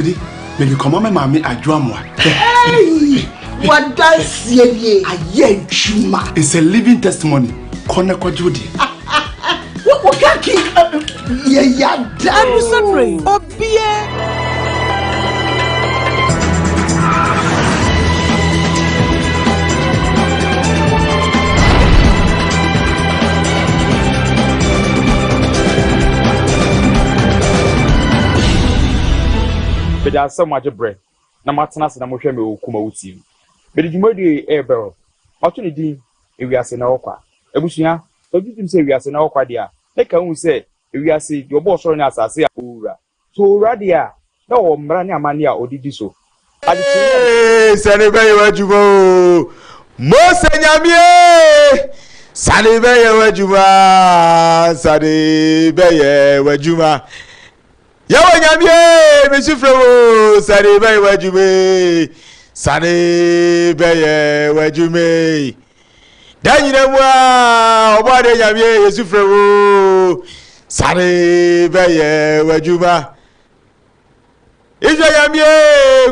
di mede kɔma me maame adwo amoa wadanseɛ nie ayɛ adwuma it's a living testimony kɔ na kɔgye wo deɛ wokaki yɛyada adusɛmmerɛ obiɛ Meda ase sɛ moagye berɛ na moatena ase na mohwɛ me wɔ Kumawu TV. Mede dwumadie yi rebɛwrɔ. Mato ne din Ewiase Nnɛ Hɔ Kwa. Abusua, sɛ wogye tom sɛ ewiase nnɛ hɔ kwa deɛ a, na ɛka wohu sɛ ewiase, deɛ ɔbɔɔ ɔsoro ne asase a ɔwura. So owura deɛ a, na ɔwɔ mmara ne amanneɛ a ɔde di so? Adekyeeɛ a. Ee, sane bɛyɛ w'adwuma o, Mose Nyame e, sane bɛyɛ w'adwuma, sane bɛyɛ w'adwuma. Yɛwɔ Nyame e, mesu frɛ wo, sane bɛyɛ w'adwuma e, sane bɛyɛ w'adwuma e. Da nyina mu a ɔbɔ ade nyame yesu frɛ wo sane bɛyɛ w'adwuma israel nyame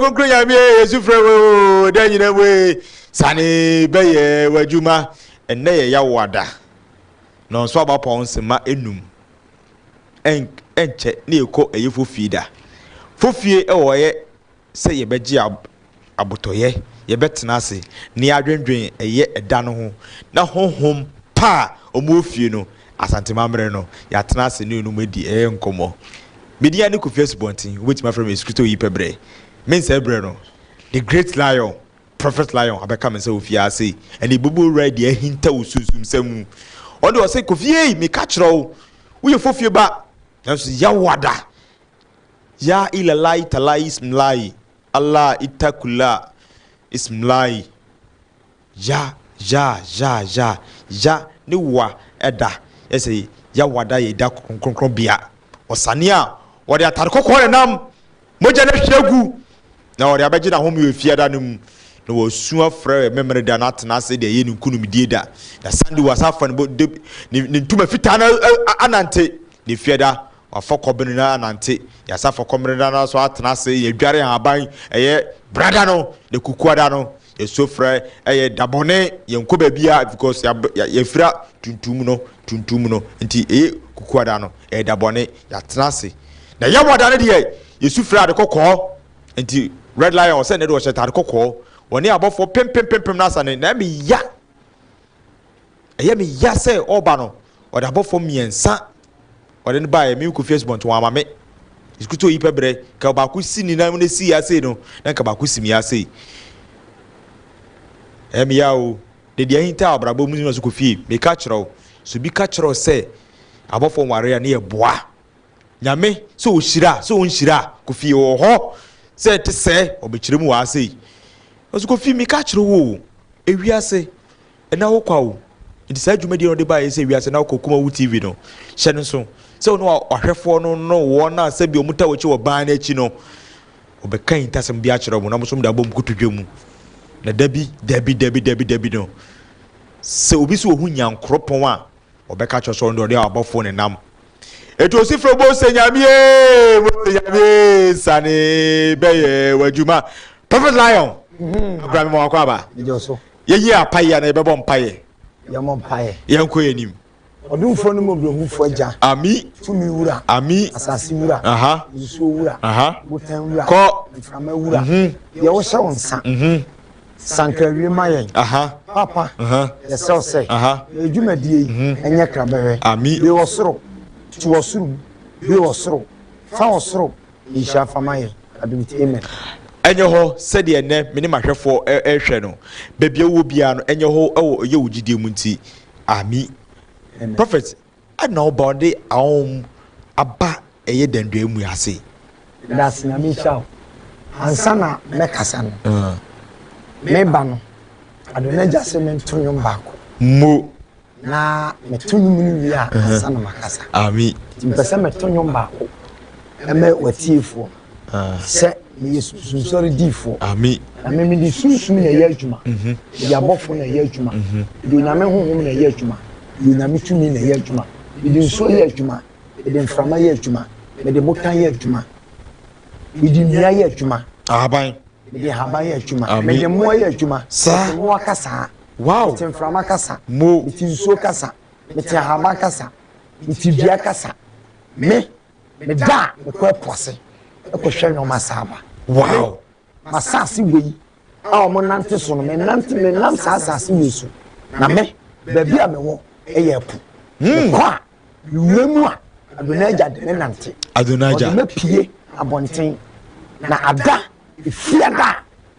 kunkun nyame yesu frɛ wo da nyina mu sane bɛyɛ w'adwuma ɛnɛ yɛ yawo ada na ɔnso aba pɔn nsema enum ɛnkyɛ ne ɛkɔ ɛyefo fie da fofie ɛwɔ ɛyɛ sɛ yɛbɛgye abotɔyɛ, yɛbɛtena ase na yɛadwendwen ɛyɛ ɛda no ho, na honhom pa a wɔwɔ fie no, Asante Mammere no, yɛatena ase ne wɔnom adi ɛyɛ nkɔmmɔ. Me din ane Kofi Asubɔnten, wobɛtumi afrɛ me Yesu Kristo Oyi Pɛ Berɛ. Mensɛe berɛ no, The Great Lion, Prophet Lion, abɛka me nsa wɔ fie ha sei, ɛnna Ebobuo Wura adi ahinta wɔ sunsumsɛm mu. Ɔno deɛ ɔse, Kofi ei, meka kyerɛ wo, woyɛ fofie ba, nanso yɛ wo ada, Yaa ilalai talai ismlai Allah itakula ismlai Ya ya ya ya ya ne wa ɛda yɛsɛ ya wada yɛ da kronkron bea ɔsane a wɔde atare kɔkɔɔ ne nam mogya na hwɛ gu na wɔde abɛgye na home wɔ fiada no mu na wɔsu afrɛ mmemmere da na atena ase de ɛyɛ ne nkunimdie da na sande wɔ asafa ne ntoma fitaa na anante ne fiada Wɔafa kɔben no anante, yɛasa fa kɔben no nso atena ase, yɛadware nhaban, ɛyɛ brada no na kukuada no, yɛn sofrɛ yɛ da bɔne, yɛnkɔ baabiara because yɛafira tuntum no, tuntum no, nti ɛyɛ kukuada no, ɛyɛ da bɔne, yɛatena ase. Na yɛwɔda no deɛ, yɛsu frɛ ade kɔkɔɔ, nti Red Lion ɔsɛ ne de ɔhyɛ tade kɔkɔɔ, wɔne abɔfoɔ pempempempem no asa ne, na ɛmeya. Ɛyɛ me ya sɛ ɔreba no, ɔde abɔfoɔ mmiɛnsa ɔde no baeɛ, me kɔfie asubɔnten wɔn ama me. Ɛsikutu oyi pɛ berɛ, nka baako si ne nan mu na esi ya sei no, na nka baako si me ya sei. Ɛyɛ me ya o, de deɛ ahinta abrabɔ mu no so kɔ fie. Meka kyerɛ wo, sɛ obi ka kyerɛ wo sɛ abɔfoɔ nware a, ne yɛ boa. Nyame sɛ ɔhyira a sɛ ɔnhyira a Kofi ɔwɔ hɔ sɛ ɛte sɛɛ ɔbɛkyerɛ mu wɔ ha sei Nanso Kofi meka kyerɛ wo o ewiase ɛna wo kwa o Nti saa dwumadie no ɔde baa yɛ sɛ ewiase ɛna wo kwa Kumawu TV no hyɛ no nso sɛ ɔno ahwɛfoɔ no no wɔn a sɛbi ɔmo ta wɔ akyi wɔ ban no akyi no ɔbɛka ahintasɛm bi akyerɛ ɔmo na ɔmo nso ɔmo de abɔ ɔmo kotodwe mu na dabi dabi dabi dabi dabi no sɛ obi so ɔhu nyankoropɔn a ɔbɛka kyerɛ sɛ ɔno deɛ ɔde abɔfoɔ nenam Eti osi frɛ Mose nyamie Mose nyamie nsane bɛyɛ w'adwuma Prophet Lion mhm. abira mi ma wakɔ aba yɛnyi apaeɛ na yɛbɛbɔ mpaeɛ yɛmmɔ mpaeɛ yɛnkɔ yɛn anim ɔdomfoɔ no mu ɔbrɛhufoɔ agya ami tumi wura ami asase wura aha nsuo wura aha botan wura kɔ mframa wura mhm. deɛ wohyɛ wo nsa mhm. Sankaawie ma yɛn. Papa, yɛsrɛ wo sɛ yɛn dwumadie yi nyɛ krabɛhwɛ. Be wɔ soro, tu wɔ soro mu, be wɔ soro, fa wɔ soro nhyira fa ma yɛn. Adomiti Amen. Ɛnyɛ hɔ sɛdeɛ ɛnnɛ me ne m'ahwɛfoɔ rehwɛ no, baabi a wowɔ biara no, ɛnyɛ hɔ wɔ ɛyɛ wo gyidie mu nti. Amen. Prophet, Ɛna ɔba ɔde aɔm aba ɛyɛ danduaa mu ase. Dase nyame nhyira wo. Ansa na mɛ kasa no me ba no Adonagya se me nto nwom baako. Mo. Na me to nwom no wie a ansa na ma kasa. Ami. Nti mpɛ sɛ mɛ to nwom baako mɛ w'atiefoɔ no. Sɛ meyɛ sunsum sɔre difo a, na me mede sunsum na ɛyɛ adwuma, mede abɔfo na ɛyɛ adwuma, mede Onyame honhom na ɛyɛ adwuma, mede Onyame tumi na ɛyɛ adwuma, mede nsuo yɛ adwuma, mede mframa yɛ adwuma, mede botan yɛ adwuma, mede nnua yɛ adwuma, ahaban, mede ahaban yɛ adwuma, mede mmoa yɛ adwuma, mete mmoa kasa, mete mframa kasa, mete nsuo kasa, mete ahaban kasa, mete dua kasa, me. Meda a mekɔ ɛpo ase kɔhwɛ nneɛma saa ba. Wow! M'asase wei a wɔn nante so no, menante menam saa asase wei so. Na me, baabi a mewɔ yɛ ɛpo. Hmm. Mekɔ a, mewura mu a, Adonija de me nante. Adonija. Ɔde me pie abɔnten. Na ada, efia da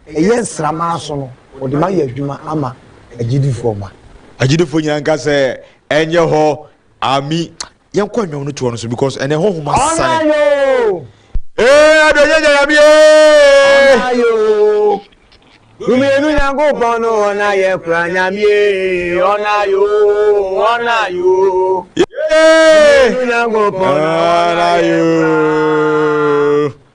a ɛyɛ nsramaa so no, ɔde ma yɛ adwuma ama agyidifoɔ ma. Agyidifoɔ nyinaa nka sɛ ɛnyɛ hɔ ami. Yɛnkɔ nnwom no toɔ no so because ɛnɛ honhom asane. Ɔna yoo. Ee ado yɛ nyame ee. Ɔna yoo. Dumienu Nyankopɔn no ɔna yɛ kura nyame ee. Ɔna yoo, ɔna yoo. Dumienu Nyankopɔn no ɔna yɛ kura.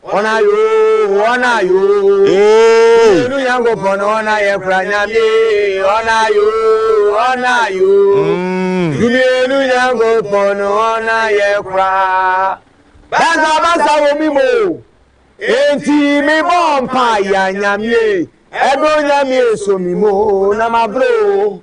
Ɔna yoo, ɔna yoo. Yenu Nyankopɔn no ɔna yɛ kora Nyame. Ɔna yoo, ɔna yoo. Dumienu Nyankopɔn no ɔna yɛ kora. Basa basa wɔ mi mo. Enti mi bɔ mpa ya Nyame. Ɛdɔ Nyame so mi mo na ma bro.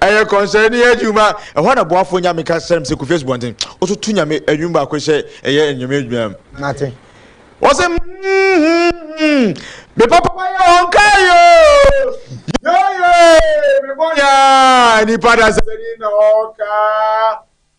Ɛyɛ kɔnsɛrni adwuma. Ɛhɔ na boafo nyame ka sɛm sɛ Kofi Asubɔnten. Ɔtoto nyame nnwom baako sɛ ɛyɛ anyame adwuma. Mate. Ɔse mm-hmm-hmm. Me papa wayɛ wɔn kaa yoo. Yooyee, me bɔne aa. Nipa dasani na ɔka.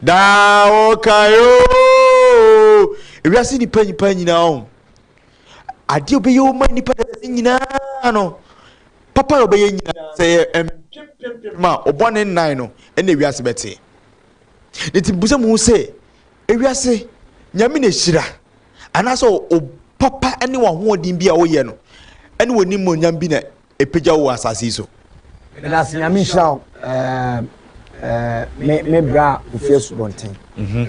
Daa ɔkae oo. Ewiase nipa nipa nyinaa ho. Adeɛ ɔbɛyɛ wo ma nipa dɛsɛ nyinaa no. Papa yɛ ɔbɛyɛ nyinaa sɛ yɛ mpempempem ma ɔbɔ ne nnan no ɛna ewiase bɛte. Ne ti busa mu sɛ ewiase nyame na ehyira anaasɛ o papa ne wɔn ahoɔden bi a wɔyɛ no ɛne wɔn nimonyam bi na ɛpagya wo wɔ asase yi so. Medase Nyame nhyira wo me me bra Kofi Asubɔnten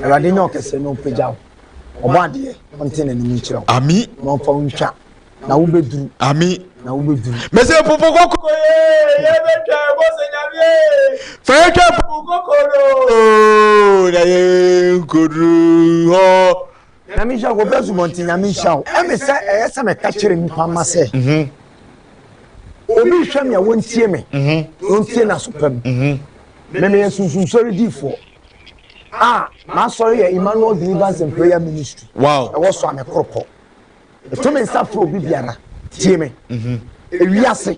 Awurade nyɛ ɔkɛseɛ na ɔpagya wo ɔbɔ adeɛ ɔnte n'anim nkyerɛ wo Ami na ɔmfa wo ntwa na wobɛduru Ami na wobɛduru Mese pupu koko yee yɛ bɛtwa ɛbɔ sɛ Nyame ee fa yɛtwa pupu koko no na yɛ nkoduru hɔ Nyame nhyira wo bra zubɔnten nyame nhyira wo ɛme sɛ ɛyɛ sɛ mɛka kyerɛ nipa ma sɛ mhm. obi hwɛ me a wɔntie me mhm. wɔntie n'aso pam mhm. memeyɛ sunsunsɔre diifoɔ a m'asɔre yɛ emmanuel deliverance and prayer ministry ɛwɔ so a mɛkoropɔ ɛto me nsa frɛ obi biara tie me ewiase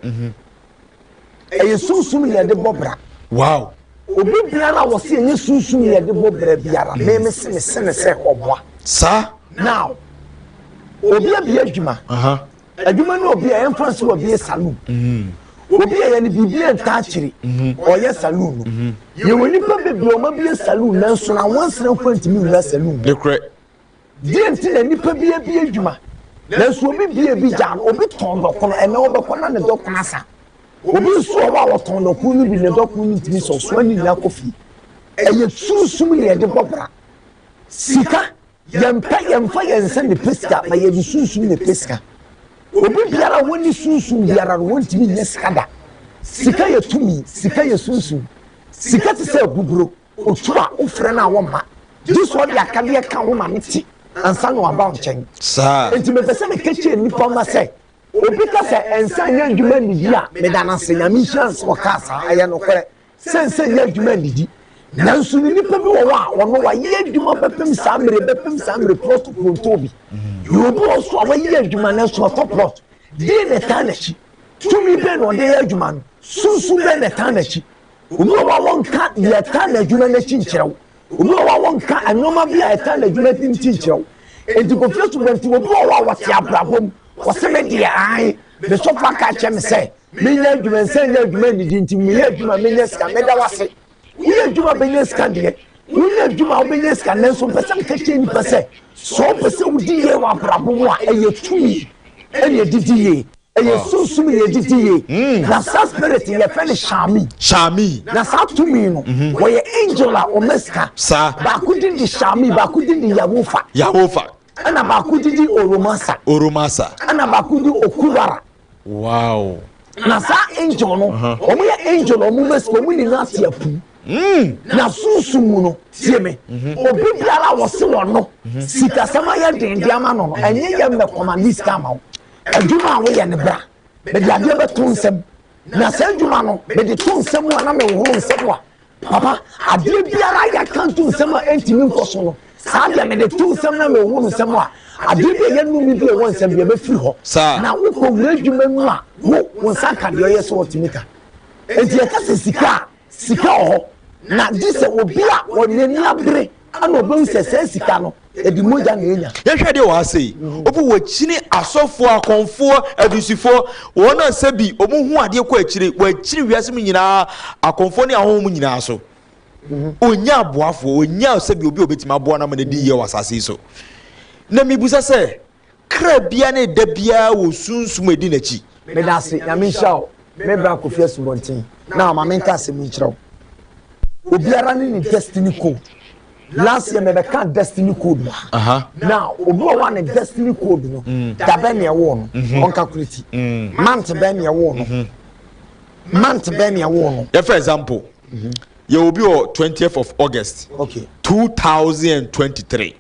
Ɛyɛ sunsum na yɛde bɔ bra. Wow! Obi biara a wɔsi ɛnyɛ sunsum na yɛde bɔ bra biara, mm. meme se me se ne sɛ ɔboa. Saa. Now, obi abie adwuma. Adwuma ne obi a ɛmfa nsi wɔ bie saloon. Mm. Obi a yɛne biribi a ntaa kyiri, mm-hmm. ɔyɛ saloon no. Mm-hmm. Yɛwɔ nipa bebree ɔma bie saloon nanso na wɔn nsira mfa ntumi wura saloon. Dekorɛ. Deɛ nti na nnipa bi abie adwuma nanso obi bie bi gyaa no? Obi tɔn dɔkono, ɛnɛ ɔbɛkɔ na ne dɔkono asa. Obi nso wɔ hɔ a ɔtɔn dɔkono no bi, ne dɔkono no ntumi sɛ ɔsoa ne nyinaa kɔ fie. Ɛyɛ sunsum na yɛde bɔ bra. Sika, yɛmpɛ, yɛmfa yɛn nsa nnepɛ sika, na yɛde sunsum na ɛpɛ sika. Obi biara a wɔnni sunsum biara no, wɔntumi nyɛ sika da. Sika yɛ tumi, sika yɛ sunsum. Sika te sɛ abuburo. Otu a wofrɛ no a wɔmma, gye sɛ ɔde akadeɛ ka ho ma no te ansa na waba wo nkyɛn. Saa. Enti mepɛ sɛ meka kyerɛ nnipa mma sɛ, obi ka sɛ ɛnsɛ nyɛ adwuma nnidi a, meda no ase, Nyame nhyira no sɛ ɔkaa saa, ɛyɛ nokorɛ sɛ ɛnsɛ nyɛ adwuma nnidi. Nanso nnipa bi wɔ hɔ a wɔn no wɔayɛ adwuma bɛpem saa mmerɛ, bɛpem saa mmerɛ, plɔt koro ntɔɔ bi. Na obi wɔ hɔ nso a wayɛ adwuma nanso watɔ plɔt. Deɛn na ɛtaa n'akyi? Tumi bɛn na ɔde yɛ adwuma no? Sunsum bɛn na ɛtaa n'akyi? Obi wɔ hɔ a wɔnka deɛ ɛtaa n'adwuma no akyi nkyerɛ wo. Obi wɔ hɔ a wɔnka nneɛma bi a ɛtaa n'adwuma no ti nkyerɛ wo. Enti Kofi Asubɛnti, obi wɔ hɔ a wɔte abrabɔ mu, wɔse me deɛ ae, me sɔfo aka akyerɛ me sɛ menyɛ adwuma, nsan nyɛ adwuma nnidi nti meyɛ adwuma menya sika. Meda wo ase. Woyɛ adwuma a wobɛnya sika deɛ, wonyɛ adwuma a wobɛnya sika nanso mepɛ sɛ meka kyerɛ nnipa sɛ, sɛ wopɛ sɛ wodi yie wɔ abrabɔ mu a, ɛyɛ tumi na ɛde di yie. Ɛyɛ sunsum yɛ gyigye yie na saa spirit yi yɛfrɛ no Shami. Shami. Na saa tumi no wɔyɛ angel a wɔma sika. Saa. Baako din de Shami, baako din de Yawofa. Yawofa. Ɛna baako din de Oromasa. Oromasa. Ɛna baako din Okuwara. Wow. Na saa angel no wɔn yɛ angel a wɔma sika wɔn nyinaa te apu. Hmm. Na sunsum mu no tie me mhm. obi biara a wɔse wɔn no mhm. sikasɛm ayɛ den de ama no no mhm. ɛnyɛ yɛ mmɛkɔma ne sika ama wo. Adwuma a woyɛ no bra, mede adeɛ bɛto nsam, na saa adwuma no mede to nsam mu a na mehohoro nsam a, papa, adeɛ biara a yɛaka nto nsam a ɛntumi nkɔ so no, saa deɛ mede to nsam na mehohoro nsam a, adeɛ bi a ɛyɛ nnome bi a ɛwɔ nsam biara bɛfiri hɔ. Na wokɔwura adwuma mu a, wo, wo nsa nka deɛ ɔyɛ sɛ ɔte mita. Enti yɛka sɛ sika a Sika wɔ hɔ, na gye sɛ obi a ɔde n'ani abere na obehu sɛ saa sika no, ɛde mogya na enya. Yɛhwɛ deɛ wɔ ha sei, obi wɔkyini asɔfoɔ, akɔmfoɔ, adusifoɔ, wɔn a sɛbi wɔn hu adeɛ kɔ akyire, wɔkyini wiase mu nyinaa, akɔmfoɔ ne ahɔho mu nyinaa so. Ɔnya aboafoɔ, ɔnya sɛbi obi a ɔbɛtumi aboa no ama n'adi yɛ wɔ asase yi so. Na mebusa sɛ, Kra biara ne da biara wɔ sunsum a ɛdi n'akyi. Meda ase, Nyame nhyira wo. Me bra Kofi Asubɔnten na ma menka asɛm yi nkyerɛ wo. Obiara ne ne destiny code. Last year mebɛka destiny code mu ha. Now, obi wɔ hɔ a ne destiny code no, da bɛn na ɛwoo no, ɔnkakuleti. Month bɛn na ɛwoo no, month bɛn na ɛwoo no. Yɛfa example, yɛwɔ obi wɔ twentieth of August, two thousand and twenty-three.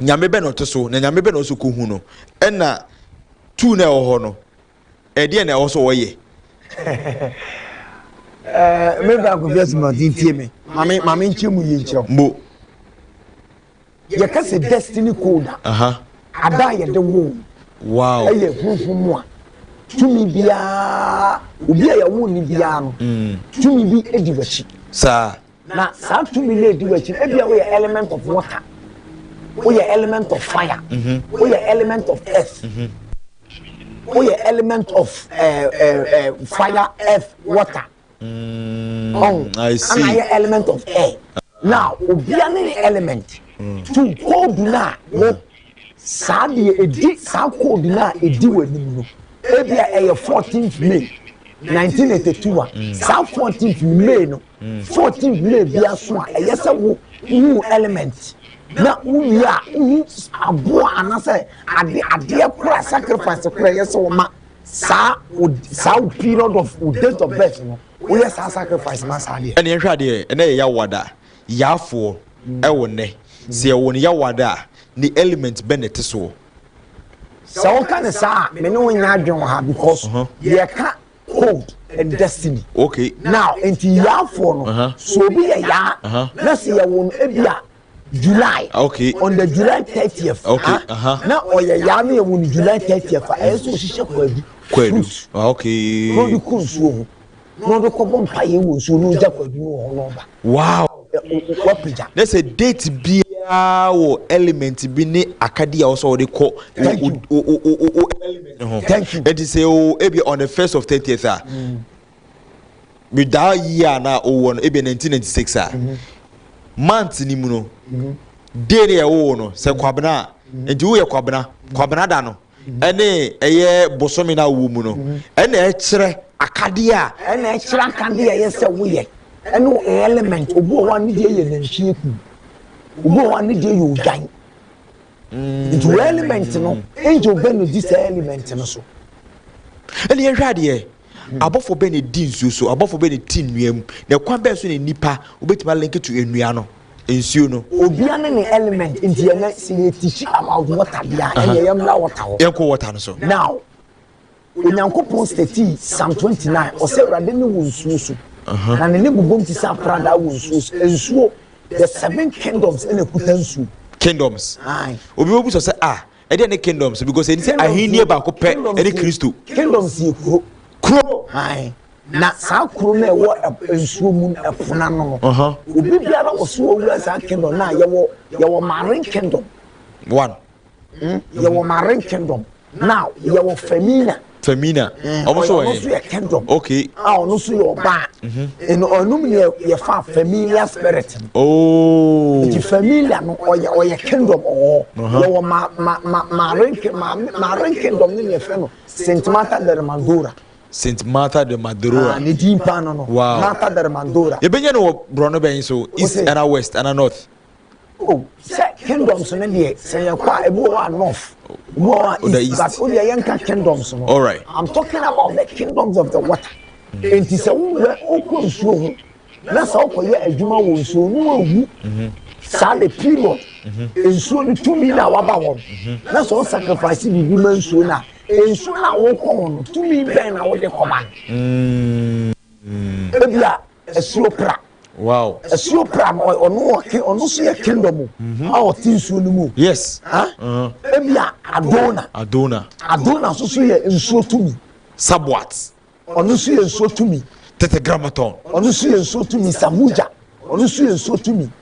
nyame bɛ na ɔte so na nyame bɛ na ɔsɛ kɔhu no ɛna tuu na ɛwɔ hɔ no ɛdeɛ na ɛwɔ sɛ ɔyɛ mebra nkɔfi asimante ntie me mame mame nkyerɛ mu yie nkyerɛ mbo yɛka sɛ destiny code a ada a yɛde woo wow ɛyɛ huhu mu a tumi biara obi a yɛwo ne biara no mm. tumi bi di w'akyi saa Na saa tumi no edi w'akyi ebia woyɛ element of water woyɛ element of fire mhm. woyɛ element of earth mhm. woyɛ element of eh, eh, eh, fire earth water mm, ɔn ana yɛ element of air na obia ne ne element mm. to koodu no a wo mm. saa deɛ edi saa koodu no a edi w'anim no ebia ɛyɛ fourteenth may nineteen eighty two a saa fourteenth may no. 14 nwura bia so a ɛyɛ sɛ wo hu element na wo wie a wo hu aboa anasɛ ade adeɛ kora sacrifice kora ɛyɛ sɛ wɔma saa saa wo period of wo date of birth no woyɛ saa sacrifice ma saa deɛ. ɛne ɛhwɛ adeɛ ɛnɛ yɛ yawada yaafoɔ ɛwɔ nnɛ sɛ yɛwɔ ne yawada a ne element bɛ na ɛte soɔ. Sɛ woka ne saa a me ne wo nyɛ adwen wɔ ha because yɛka code and destiny. Okay. Now, nti yaafoɔ no, uh-huh. so obi yɛ yaa, uh-huh. na sɛ yɛ wɔn ebi a July. Ah, okay. On the July thirtieth. Okay. Ah, uh-huh. Na ɔyɛ yaa no yɛ wɔn July thirtieth a ɛyɛ so hyehyɛ kwadu. Kwadu. Ah, okay. Na ɔde kɔ nsuo ho. Na ɔde kɔ bɔ mpa yɛ wɔ nsuo na ɔgya kwadu no wɔ hɔ na ɔba. Wow! Wapagya. Na sɛ date biara wɔ element bi ne akadi a wɔsɔ wɔde kɔ o element no ho. Thank you. Ɛti sɛ o ebi on the first of thirtieth a. Me da year na o wɔ no ebi nineteen ninety six a. Mm-hmm. Month ni mu no. Mm-hmm. Day ne yɛ wo no sɛ mm-hmm. kwabena a. Nti wo yɛ kwabena kwabena da no. ɛne ɛyɛ bosome no a wowɔ mu no, ɛna ɛkyerɛ akadeɛ a. Ɛna ɛkyerɛ akadeɛ a ɛyɛ sɛ woyɛ, ɛne wo element. Obi wɔ hɔ a ne deɛ yɛ nantwie kuo, obi wɔ hɔ a ne deɛ yɛ odwan. Mm. Nti wo element no, angel bɛ na di saa element no so. Ɛne yɛhwɛ adeɛ. Abɔfo bɛn na edi nsuo so? Abɔfo bɛn na eti nnua mu? Na ɛkwan bɛn so na nnipa wobɛtumi a link to nnua no, nsuo no? Obia ne ne element nti ɛnɛ sɛ yɛ teach about water bia ɛneɛ yɛ mmra water hɔ. Yɛnkɔ water no so. Now Onyankopɔn statii psalm 29 ɔsɛ Awurade ne wɔ nsuo so na ne ne bobom te sɛ apradaa wɔ nsuo so. Nsuo the seven kingdoms ɛna ɛkuta nsuo. Kingdoms. Aye. Obi bɛbusa sɛ ah Ɛdeɛn ne kingdoms? Because ɛni sɛ ahennie baako pɛ ɛne Kristo. Kingdoms yɛ kuro. Kuro. Hann. Na saa kuro no ɛwɔ nsuo mu ɛpono ano no. Uh -huh. Obi biara wɔ so ɔwura saa kingdom na yɛwɔ yɛwɔ marine kingdom. One. Mm, yɛwɔ marine kingdom. Now yɛwɔ femina. Femina. Eh, ɔmo so wɔ yɛn. ɔno so yɛ kingdom. okay. a ah, ɔno so yɛ ɔbaa. Mhm. ɛnu ɔnum ni yɛ yɛ fa familia spirit ni. ooo. Oh. nti familia no ɔyɛ ɔyɛ kingdom ɔwɔ. yɛ wɔ ma ma ma maaren maame maaren kingdom ni ni yɛ fɛ no saint martha de mandora. saint martha de mandora. Ah, ne din paa no no. wow martha de mandora. yɛ bɛ nyɛ no wɔ borɔno bɛn so east ana west ana north. o sɛ kingdoms no deɛ sɛ yɛ kɔ a ebi wɔ hɔ a north ebi wɔ hɔ a east but o deɛ yɛn ka kingdoms no all right i'm talking about the kingdoms of the water nti sɛ wowura okɔ nsuo ho na sɛ ɔkɔ yɛ adwuma wɔ nsuo no ewu mhm. saa de period mhm. nsuo no tumi na waba wɔn mhm. na sɛ ɔsacrifice biribi ma nsuo na nsuo na wɔkɔ wɔn tumi bɛn na wɔde kɔma no mm. ebia asuo pra. Wow. Asuo pra no ɔno ɔke ɔno nso yɛ kingdom mu mhm. a ɔte nsuo no mu. Yes. Ha? Uh-huh. Ebi a Adona. Adona. Adona nso so yɛ nsuo tumi. Sabuat. Ɔno nso yɛ nsuo tumi. Tetragrammaton. Ɔno nso yɛ nsuo tumi Samuja. Ɔno nso yɛ nsuo tumi.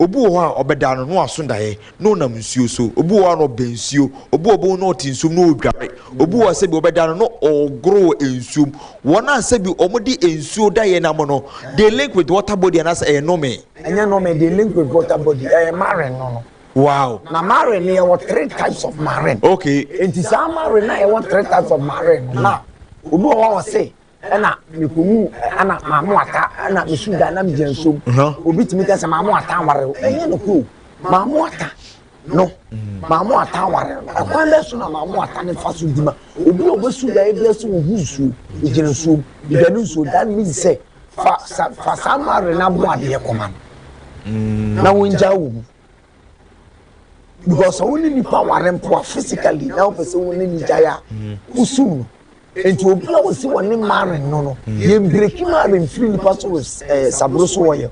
Obi wɔ hɔ a, ɔbɛda no na waso daeɛ na ɔnam nsuo so. Obi wɔ hɔ a, na ɔbɛn nsuo. Obi wɔ hɔ a, na ɔte nsuom na ɔredware. Obi wɔ hɔ a, sɛbi wɔbɛda no na ɔregoro wɔ nsuom. Wɔn a sɛbi wɔde nsuo daeɛ nam no, they link with water body anaasɛ ɛyɛ nome? Ɛnyɛ nome, they link with water body, ɛyɛ marine no no. Wow. Na marine no, yɛwɔ three types of marine. Okay. Enti saa marine no a yɛwɔ three types of marine no, na obi wɔ hɔ a ɔse ɛna mekɔwu ɛna maamo ata ɛna mesu da na megya nsom obi tumi ka sɛ maamo ata aware wo ɛnyɛ no koo maamo ata no maamo ata aware no ɛkwan bɛ so na maamo ata ne fa so dima obi a ɔbɛsu da ebi ɛsɛ ohu nsuo egyina nsuo egyina ne nsuo that means sɛ fa sa fa saa mare na abo adeɛ kɔma no na wɔn gya wɔ mu. because sɛ wo ne nipa ware mpo a physically na wopɛ sɛ wo ne ne gyae a mm. wosum no nti obi a wɔsi wɔ ne maren no no mm. yɛn breki maren firi nipa so wɔ ɛɛ eh, saburo so wɔ yɛ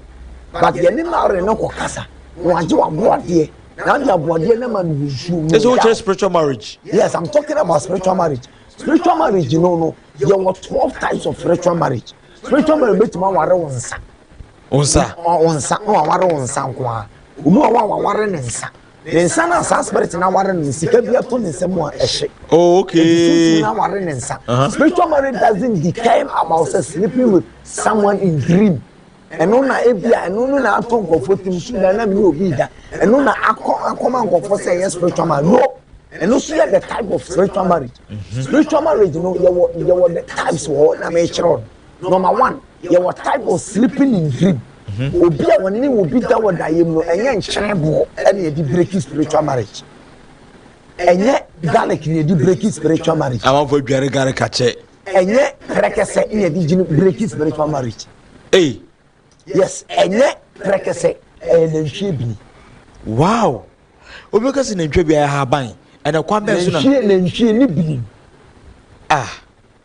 but yɛn ne maren no kɔ kasa na wagye waboadeɛ na adi aboadeɛ na ma no nsuo mu. ɛsɛ o kyerɛ spiritual marriage. yes i'm talking about spiritual marriage spiritual marriage no no yɛ wɔ twelve types of spiritual marriage spiritual marriage bɛ tuma ware wɔn nsa. Wo nsa. Wo nsa. Na waware wo nsa nko ara. Obi wɔ hɔ a waware ne nsa. Ne nsa no a saa spirit na aware no sika bi ato ne nsa mu a ɛhye. Oh, okay. Eti sunsun na aware ne nsa. Uh-huh. Spiritual marriage doesn't determine about say sleeping with someone in dream. ɛno na ebi a ɛno no na ato nkɔfo tim su na nam ne obi da ɛno na akɔ akɔma nkɔfo sɛ ɛyɛ spiritual marriage no ɛno so yɛ the type of spiritual marriage mm-hmm. spiritual marriage no yɛwɔ yɛwɔ the types wɔ hɔ na mɛkyerɛ no. Number one, yɛwɔ type of sleeping in dream. Mm-hmm. Obi a wɔne ne obi da wɔ dayɛ mu no, ɛnyɛ nkyerɛ boɔ ɛna yɛde breaking spiritual marriage. Ɛnyɛ garlic na yɛde breaking spiritual marriage. Amanfo adware garlic akyɛ. Ɛnyɛ pɛrɛkɛsɛ na yɛde gyina breaking spiritual marriage. Hey. Yes, ɛnyɛ pɛrɛkɛsɛ ɛyɛ nantwie bini. Wow. Obi kasi nantwie bi ayɛ haban. Ɛna kwan bɛn so na. Nantwie nantwie ne bini. Ah.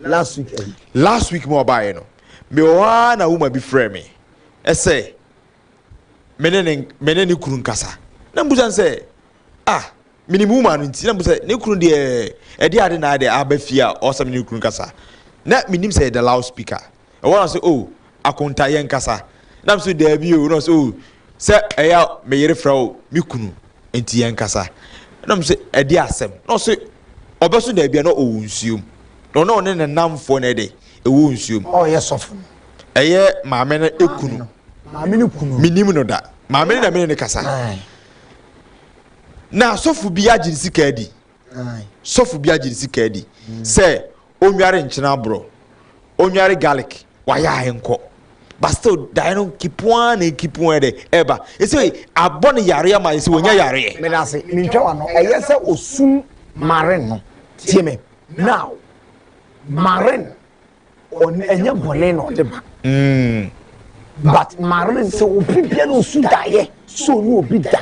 last week ɛyi. last week mu ɔbaa yɛ no me wɔ hɔ ara na woma bi frɛ me ɛsɛ me ne ne me ne ne kunu nkasa na mbusa nsɛ ah me ne wuma no nti na mbusa ne kunu deɛ ɛde ade na ade aba fie a ɔsɛ me ne kunu nkasa na me nim sɛ ɛda loud speaker. Ɛhɔ na ɔsɛ, Oh, Akonta, yɛnkasa. Na me so, Daabi o. Na ɔsɛ, Oh, sɛ ɛyɛ a me yere frɛ wo me kunu nti yɛnkasa. Na me so, Ɛdeɛ asɛm? Na ɔsɛ, Ɔbɛso daabi a na ɔwɔ nsuom. Na ɔne ɔne ne nnamfoɔ na ɛdɛ, ɛwɔ nsuom. Oh, ɛyɛ sɔfo no. Ɛyɛ maame no kunu. Maame no kunu. Menim no da. Maame no na me ne no kasa. Na asɔfo bi agye ne sika adi. Sɔfo bi agye ne sika adi sɛ onware nkyene aborɔ, onware garlic, wayɛ a ɛnkɔ. But still, daeɛ no nkipu ara na nkipu ara dɛ ɛba. Ɛsɛ abɔ no yareɛ ma ɛsɛ wɔnya yareɛ. Meda ase, mentwa w'ano. Ɛyɛ sɛ ɔsum Marin no. Tie me, now, Marin, ɔn, ɛnyɛ bɔne na ɔde ma. Mm. But Marin sɛ obi bia na ɔsu daeɛ sɛ ɔne obi da.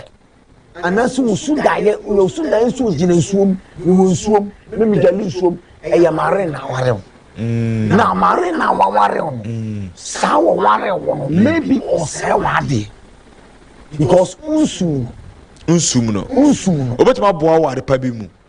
Anaase wo su daeɛ woyɛ wo su daeɛ nso ogyina nsuo mu wowɔ nsuo mu ne megyale nsuo mu ɛyɛ mare na aware wo mm. na mare na waware wo no mm. saa wɔware wo no mm. maybe ɔsɛe w'adeɛ because wonsum no wonsum no wonsum no wobɛtumi aboa wo adepa bi mu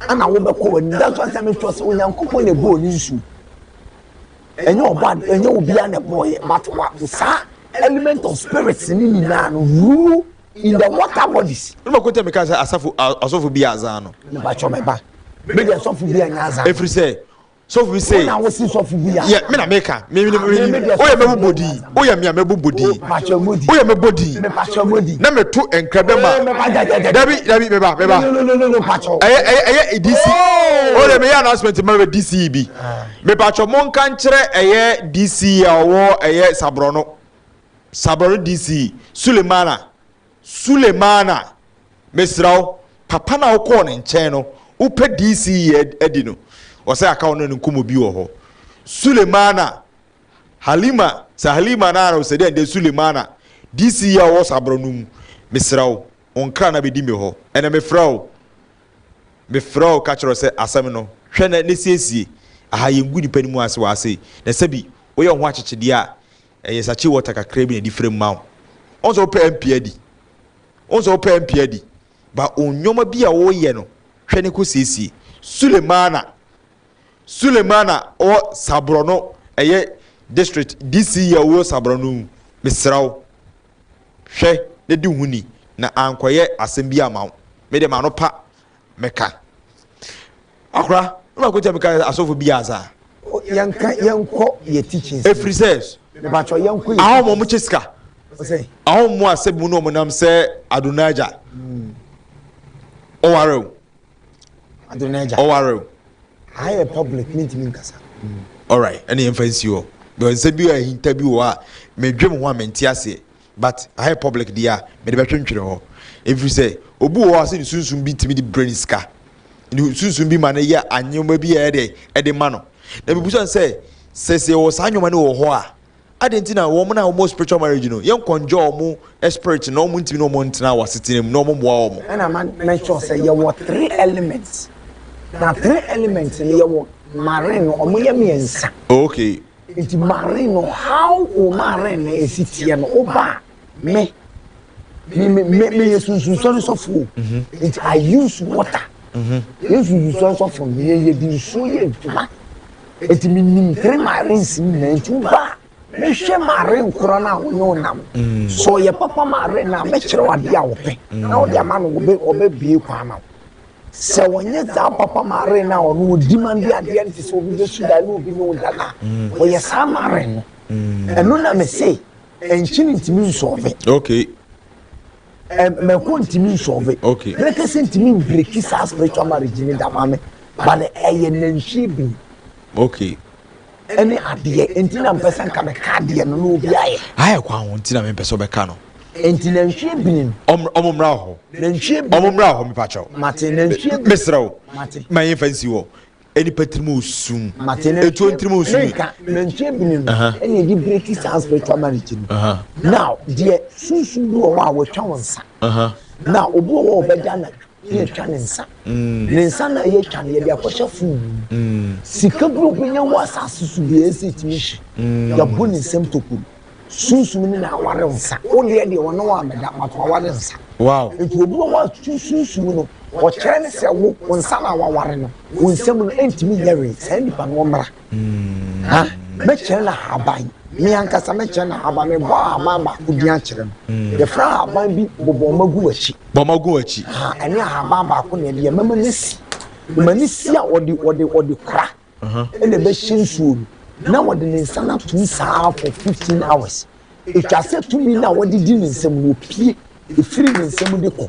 Ɛna wobɛkɔ w'anim. That's why sɛ mekyerɛ sɛ Onyankopɔn na ɛbɔɔ ne nsu. Ɛnyɛ ɔba ɛnyɛ obiara na ɛbɔɔyɛ but wa saa element of spirits ne nyinaa no rule in the water bodies. Ne ma kɔtɛ mi ka sɛ asafo asɔfo bi azan no. Nipa kyɔ mɛba. Bɛ de asɔfo bi anya azan. Efiri sɛ so hu se wɔn a wosi sɔfo bi a yɛ me na meka me me me oyɛ me bobɔ din oyɛ me a me bobɔ din oyɛ me bɔ din na me to nkra bɛ ma dabi dabi meba meba ɛyɛ ɛyɛ ɛyɛ dc o de me yɛ announcement ma bɛ dc yi bi meba twɛ mo nka nkyerɛ ɛyɛ dc a ɔwɔ ɛyɛ saborɔ no saborɔ no dc sulemana Sulemana, mesrɛ wo, papa no a wokɔɔ ne nkyɛn no, wopɛ DC yi adi no, ɔsɛ aka wo ne no nkɔmmɔ bi wɔ hɔ. Sulemana, Halima, sɛ Halima no a ɔsɛ dɛ ndɛ Sulemana, DC yi a ɔwɔ Sabra no mu, mesrɛ wo, wo nkra na bɛdi me hɔ, ɛnɛ mefrɛ wo, mefrɛ wo ka kyerɛ wo sɛ asɛm no, hwɛ na siesie, aha yɛngu nnipa no mu ase wɔ ha sei, na sɛbi woyɛ wo ho akyekyedeɛ a, Ɛyɛ sakye water kakra bi na ɛde frɛm ma wo. Wohu sɛ wopɛ a mpia di. Wohu sɛ wopɛ a mpia di. Ba wo nneɛma bi a woreyɛ no, hwɛ ne kɔ siesie. Sulemana, Sulemana wɔ Sabrɔno, ɛyɛ district DC yi a wɔ Sabrɔno mu. Mesrɛ wo, hwɛ na di ho ni na ankɔyɛ asɛm bi amma wo. Me deɛ m'ano pa meka akora na ɔkɔ kyɛ meka asɔfo bi aza yɛnka yɛnkɔ yɛ teachings ɛfiri sɛ mebakyɛ yɛnkɔ yɛ ahom ɔmo kyɛ sika ahom mu asɛ mu na ɔmo nam sɛ adonaja ɔware o adonaja ɔware o ayɛ public mintimi nkasa alright ɛne yɛmfa nsi hɔ bɛ nsɛ bi a ahinta bi wɔ a medwe mo ho a mente aseɛ But aha yɛ public deɛ a, mede bɛtwentwene hɔ. Ɛfiri sɛ, obi wɔ hɔ a sɛ ne sunsum bi tumi de brɛ no sika. Ne sunsum bi ma no yɛ anneɛma bi a ɛyɛ dɛ ɛde ma no. Na mebusa no sɛ, sɛ sɛ yɛwɔ saa nneɛma no wɔ hɔ a, adɛn nti na wɔn a wɔwɔ spiritual marriage no, yɛnkɔnjɔ wɔn spirit na wɔntumi ne wɔn ntena wɔ asetena mu na wɔmmoa wɔn? Ɛna ma mention sɛ yɛwɔ three elements. Na three elements no yɛwɔ marine no, wɔyɛ mmiɛnsa. Okay. Enti Marin no, how o Marin no ɛsi teɛ no, woba a, me, me, me, me, meyɛ sunsunsɔre sɔfo o. Mhm. Enti I use water. Mhm. Yɛ sunsunsɔre sɔfo no, yɛ yɛ de nsuo yɛ adwuma. Enti menim three Marins nyinaa, enti woba a, mehwɛ Marin korɔ no a wo ne wo nam. Mm. Sɛ ɔyɛ papa Marin no a, mɛkyerɛ wo adeɛ a wopɛ. Na wode ama no, ɔbɛbie kwan ma wo. Sɛ wɔnyɛ saa papa mare no a ɔno ɔdi ma de adeɛ no te sɛ obi bɛsu dan ne obi ne wo da no a, wɔyɛ saa mare no. Ɛno na me se nkyene ntumi nsɔɔve. Okay. Mako ntumi nsɔɔve. Okay. Brekese ntumi mbreki saa spiritual marriage ne da ma me. But ɛyɛ nantwie bini. Okay. ɛne adeɛ nti na mpɛ sɛ nka meka adeɛ no na obi ayɛ. ayɛ kwan ho nti na mempɛ sɛ ɔbɛka no. nti nantwie bini no. ɔm ɔmo mmra hɔ. nantwie bini ɔmo mmra hɔ mepakyɛw. mate nantwie bini mesrɛ wo. mate. ma yɛmfa nsi hɔ nipa tirim osum. mate nantwie etuo ntirim osum. menka nantwie bini no ɛna ɛde breki saa spiritual marriage no. now deɛ sunsum bi wɔ hɔ a wɔatwa wɔn nsa. now obi wɔ hɔ a ɔbɛda anadwo. yɛtwa ne nsa ne nsa na yɛtwa no yɛde akɔhyɛ fon mu sika bi obenya wɔ asase so bi ɛsɛ ɛtumi hye yɛbɔ ne nsɛm tokuro sunsum ne na aware nsa wo deɛ deɛ ɔne wɔ amɛda but waware nsa nti obi wɔ hɔ a sunsum no ɔkyerɛ ne sɛ wo wo nsa na waware no wo nsɛm no ɛntumi nyɛ wee saa nipa no ɔmmra ha mɛkyerɛ no ahaban me ankasa mɛkyerɛ no ahaban mebɔ ahaban baako din akyerɛ no mm. yɛfrɛ ahaban bi bɔbɔma gu akyi bɔma gu akyi ɛne ahaban baako na ɛdeɛ mɛma no si ma no si a wɔde wɔde wɔde kora uh-huh. ɛna ɛbɛhyɛ nsuo no na wɔde ne nsa no atom saa for fifteen hours ɛtwa sɛ tumi no a wɔde di ne nsam no ɔpie ɛfiri ne nsam de kɔ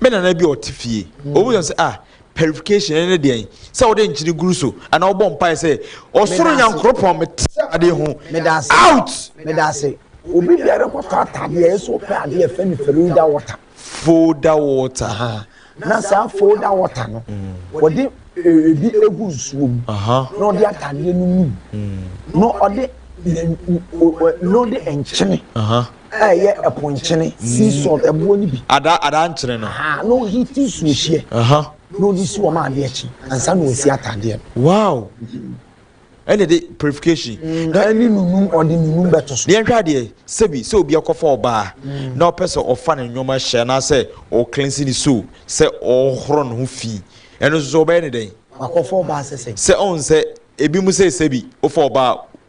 Me nana bi a ɔte fie, ɔbɛbisa sɛ, Ah, purification, ɛno ne deɛn? Sɛ wode nkyene guru so, anaa wobɔ mpae sɛ, Ɔsoro Nyankoropɔn, mete adeɛ ho. Out! Meda ase. Obi biara kɔtɔ ataadeɛ a, ɛyɛ sɛ ɔpɛ adeɛ a yɛfrɛ no Feroda water. Folder water. Aha. Na saa folder water no, wɔde ebi gu nsuo mu, na ɔde ataadeɛ no num, na ɔde na ɔde nkyene a ɛyɛ ɛpo nkyene, sea salt, ɛboɔ no bi. Adaa adaa nkyene no. Aha, na ɔhiti nsuo hyeɛ. Aha. Na ɔde si wɔn adeɛ akyi, ansa na ɔsi ataadeɛ no. Wow! ɛne de purification. Mm, na ɛne nunum ɔde nunum bɛto so. yɛnhwɛ adeɛ sɛbi sɛ obi akɔfa ɔbaa mm. na ɔpɛ sɛ ɔfa ne nneɛma hyɛ anaasɛ ɔklensi ne so sɛ ɔhoro ne ho fi ɛno nso ɔbɛyɛ ne dɛn. wakɔfa ɔbaa sɛ sɛ. sɛ ɔn sɛ ebi mu sɛ sɛbi wofa ɔbaa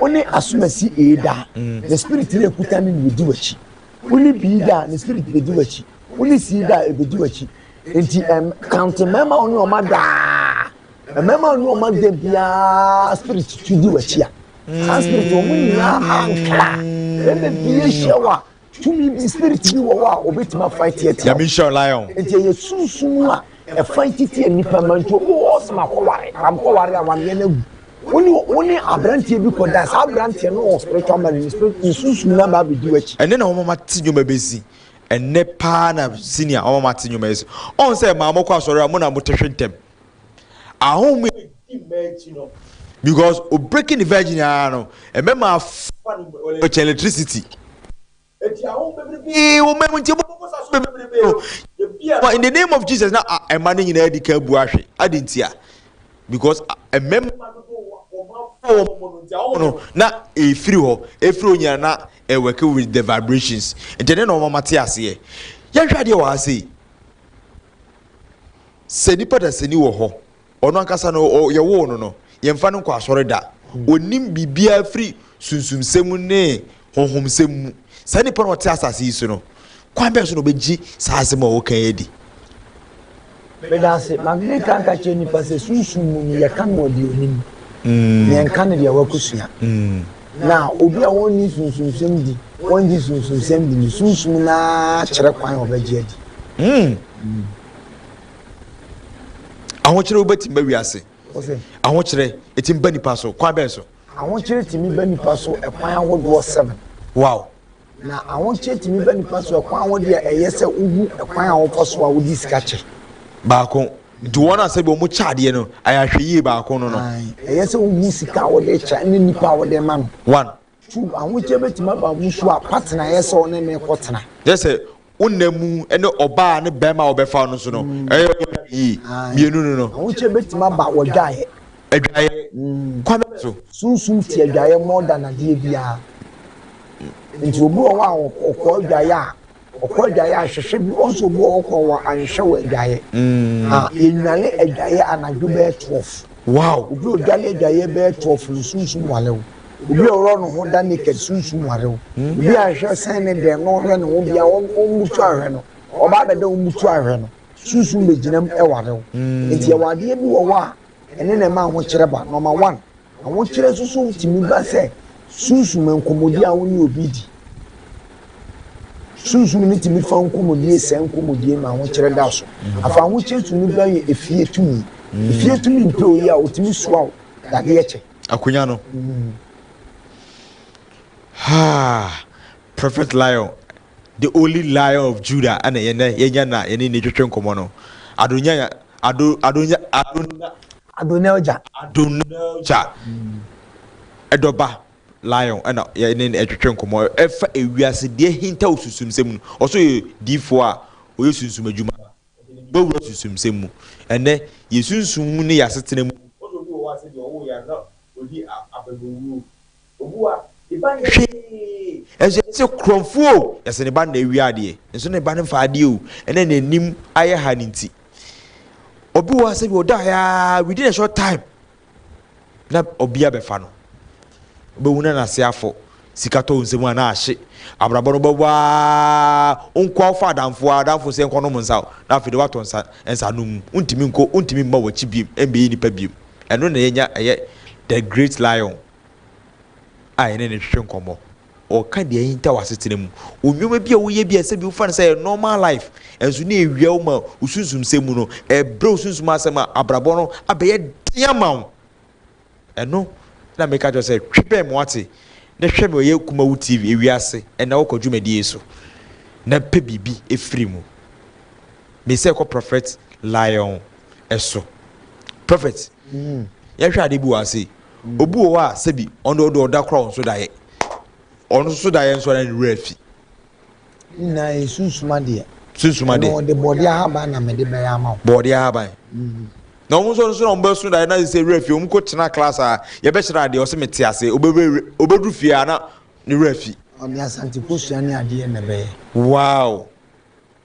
Wo ne asomasi ee daa. Ne spirit na ekuta ne na edi w'akyi. Wo ne bii daa ne spirit bedi w'akyi. Wo ne sii daa ebedi w'akyi. Enti ɛm counting mmarima a wo ne wɔn ada aa. Mmarima a wo ne wɔn ada biara spirit tu di w'akyi a. Saa spirit wɔn nyinaa ankra. Ɛna bi ahyia wo a. Tumi bi, spirit bi wɔ hɔ a obetumi afa atiatia. Nyame nhyira lion. Nti ɛyɛ sunsum a ɛfa titia nipa ma nti obi wɔ ɔsɛm akɔware pam kɔware a wameɛ no agu. Wone wone aberanteɛ bi kɔ dan saa aberanteɛ no wɔ spiritual man ne spirit ne sunsum na ba abɛdi w'akyi. Ɛnɛ na wɔn mate nnwuma bɛsi ɛnɛ paa na senior wɔn mate nnwuma ɛsi ɔn sɛ maa mo kɔ asɔre a mo na mo te hwe ntɛm. Ahom a edi mma akyi no because o breaking the virgin ara no ɛbɛma afa no mu ɔlɛ kyɛn electricity. Eti ahom bebrebe wɔ mma mu nti ɛbɔ bɔ sa so bebrebe no ebi a in the name of Jesus na ɛma no nyinaa di kan bu ahwe adi nti a because mmɛma no do wɔn afɔ wɔn mo no nti ahom no na efiri hɔ efiri onyina na ɛwɛke with the vibrations nti ɛne na wɔn ama te aseɛ yɛnhwɛ adeɛ wɔ ha sei. Sɛ nipa dasani wɔ hɔ, ɔno ankasa no ɔ, yɛwoo no no, yɛmfa no nkɔ asɔre da. Ɔnnim biribiara firi sunsumsɛm ne honhomsɛm mu. Saa nipa no a ɔte asase yi so no, kwan bɛn so na ɔbɛgye saa asɛm a wɔka yi adi? Meda ase. Ma menka nka kyerɛ nnipa sɛ sunsum mu no, yɛka no wɔ deɛ ɔnim. Yɛnka no deɛ wakɔsua. Na obi a ɔnni sunsumsɛm di, ɔngye sunsumsɛm di no, sunsum no ara kyerɛ kwan a ɔbɛgye adi. ahokyere wo bɛtumi bɛ wiase ahokyere ɛtumi bɛ nipa so kwan bɛn so ahokyere tumi bɛ nipa so ɛkwan ahodoɔ seven wow na ahokyere tumi bɛ nipa so ɛkwan ahodoɔ a ɛyɛ sɛ wohu ɛkwan a wɔfa so a wodi sika kyɛ baako nti wɔn a sɛbi wɔn kyɛ adeɛ no ayɛ ahwɛ yie baako no no ɛyɛ sɛ wohu sika a wɔde kyɛ ne nipa a wɔde ma no one So ahokyere betumi aba abusuw a partner yɛ sɛ ɔne no rekɔtena? Kyerɛ sɛ, wo nna mu ne ɔbaa ne barima a wɔbɛfa no nso no, ɛyɛ wo dɛ yie. Mmienu no no. Ahokyere betumi aba wɔ adwaeɛ. Adwaeɛ? Kwan bɛn so? Sunsum te adwaeɛ more than adeɛ biara. Nti obi wɔ hɔ a ɔkɔ adwaeɛ a. Ɔkɔ adwaeɛ a hwehwɛ bi wɔn nso obi wɔ kɔ wɔ anhwɛ wɔ adwaeɛ mm. ah, yɛnwane adwaeɛ anadwo bɛyɛ twelve wow obi odwane adwaeɛ bɛyɛ twelve no sunsum wale wo obi ɔwɔ ne ho da naked sunsum wale wo mm. obi anhwɛ sɛn ne dɛn no ɔhwɛ ne ho bia ɔmmutu ahwɛ no ɔba abɛdɛ ɔmmutu ahwɛ no sunsum bɛgyinam ɛware wo mm. nti ɛwɔ adeɛ bi wɔ hɔ a Ɛno na ɛma ahokyerɛ ba. Nɔma one, ahokyerɛ nso so tumi ba sɛ sunsum nkɔmmɔdi a wo ne obi di. Sunsum no tumi fa nkɔmmɔdie sɛe nkɔmmɔdie ma ahokyerɛ da so. Afei ahokyerɛ tumi ba yɛ efie tumi. Efie tumi mpɛ oyi a ɔtumi soa wo dadeɛ kyɛ. Akonnwa no. Haa! Prophet Lion The only Lion of Judah na ɛyɛ nnɛ yɛanya na yɛne no retwetwe nkɔmmɔ no. Adonai Ado, Adonai Adonai. Adonai Oja. Adonai Oja. Ɛdɔba Lion na yɛne no retwetwe nkɔmmɔ ɛfa ewiase deɛ ahintaw sunsumsɛm mu. Ɔso yɛ diifoɔ a ɔyɛ sunsum adwuma. Wɔwura sunsumsɛm mu. Ɛnnɛ yɛ sunsum mu ne yɛ asetena mu. Ɔso obi wɔ hɔ a sɛ deɛ ɔwoo yɛ a na ɔdi abɛbɛwuo. Owua ne ba nyɛ hwee. Nso yɛse korɔmfo o, yɛse ne ba na awia adeɛ. Nso ne ba no mfa adeɛ o, ɛna n'anim ayɛ ha no nti. Obi wɔ ha sɛ bi ɔdaeɛ aa, within a short time na ɔbi abɛfa no. Wobɛhu na n'ase afɔ, sika tɔ wo nsam a na ahye. Abrabɔ no wobɛbɔ aa, wonkɔ a wofa adamfo aa, adamfo se yɛnkɔ nom nsa o, na afei deɛ woatɔ nsa, nsa nom mu. Wontumi nkɔ, wontumi mma w'akyi biom, ɛmmɛyɛ nipa biom. Ɛno na yɛnya ɛyɛ The Great Lion. a yɛne no twetwe nkɔmmɔ. Ɔka deɛ ahintaw asetena mu. Nneɛma bi a woyɛ bi a ɛsɛ bi wofa no sɛ ɛyɛ normal life, nanso na ɛwia wo ma wo sunsumsɛm mu no, ɛbrɛ wo sunsum ase ma abrabɔ no abɛyɛ den ama wo. Ɛno na meka kyerɛ wo sɛ twe bɛn me wate, na hwɛ me ɔyɛ Kumawu TV ewiase ɛna wokɔ dwumadie yi so na pɛ biribi firi mu. Mesɛ kɔ Prophet Lion so. Prophet, yɛnhwɛ adeɛ bi wɔ ha sei. Obi wɔ hɔ a sɛbi ɔno ɔde ɔda koraa ɔnso daeɛ. Ɔno nso daeɛ nso na ne werɛ afi. Ne nyinaa yɛ sunsum adeɛ. Sunsum adeɛ. Ɛno ɔde bɔɔdeɛ ahaban na mede bɛyɛ ama wo. Bɔɔdeɛ ahaban. Mm. Na wɔn nso nso na wɔn bɛso daeɛ na sɛ werɛ fi wɔn kɔ tena class a yɛbɛkyerɛ adeɛ ɔsɛ mete ase obɛduru fie a na ne werɛ afi. Ɔde asante kosua ne adeɛ na ɛbɛyɛ. Wow.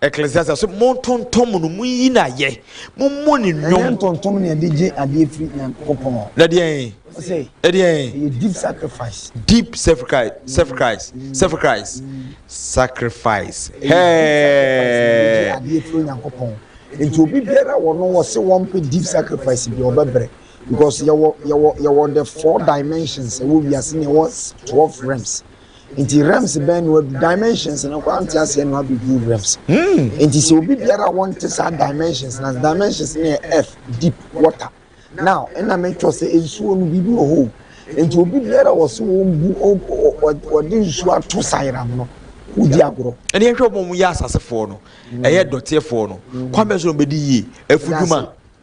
Ecclesiastes so, Montontom no, monyi no ayɛ, mommɔ no nnwom. Ɛnyɛ ntontom na yɛde gye adeɛ firi Nyankopɔn hɔ. Na deɛn? Ɔsɛ. Ɛdeɛn? Ɛyɛ deep sacrifice. Deep sacrifice, sacrifice, mm. sacrifice, mm. sacrifice. Hɛɛ. Adeɛ firi Nyankopɔn. Nti obi biara wɔ no wɔ se wɔn pe deep sacrifice bi ɔbɛbrɛ because yɛwɔ yɛwɔ yɛwɔ the four dimensions ɛwɔ wiase na ɛwɔ twelve realms. Nti realms bɛn na wadu? Dimensions no koraa nte aseɛ na wabɛduru realms. Nti sɛ obi biara a wɔnte saa dimensions no ase, dimensions no yɛ earth, deep, water. Now, nna metwerɛ sɛ nsuo no biribi wɔ hɔ o. Nti obi biara a wɔse wɔmbu, wɔde nsuo ato sayeram no, wodi agorɔ. Ɛnna yɛnhwɛ wɔn a wɔyɛ asasefoɔ no, ɛyɛ dɔteɛfoɔ no, kwan bɛn so na wɔbɛdi yie? Afudwuma.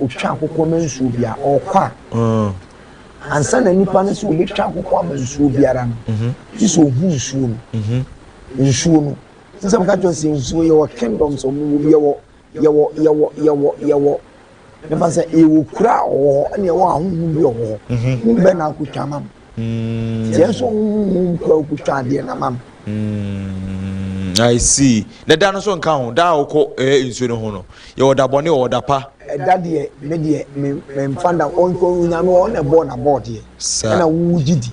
ɔtwa akokɔ ama nsuo biara ɔkɔ a mm. ansa na nipa no sɛ ɔbɛtwa akokɔ ama nsuo biara no mhm. gye sɛ ɔhu nsuo no mhm. nsuo no sɛ meka kyerɛ sɛ nsuo yɛwɔ kingdom sɛ ɔmowɔ bi yɛwɔ yɛwɔ yɛwɔ yɛwɔ yɛwɔ mɛma sɛ yɛwɔ kura a ɔwɔ hɔ ɛne yɛwɔ ahohom bi ɔwɔ hɔ ne bɛ na akotwa ma no Tiɛ nso nhu nkɔ akutwa adeɛ na ma no. I see. Na da no nso nka ho da a wokɔ ɛɛ nsuo no ho no yɛwɔ da bɔne wɔ da pa. Ɛda deɛ me deɛ me me nfa da ɔnkɔ onyame ɔɔ na ɛbɔɔ na bɔɔ deɛ ɛna wo gye di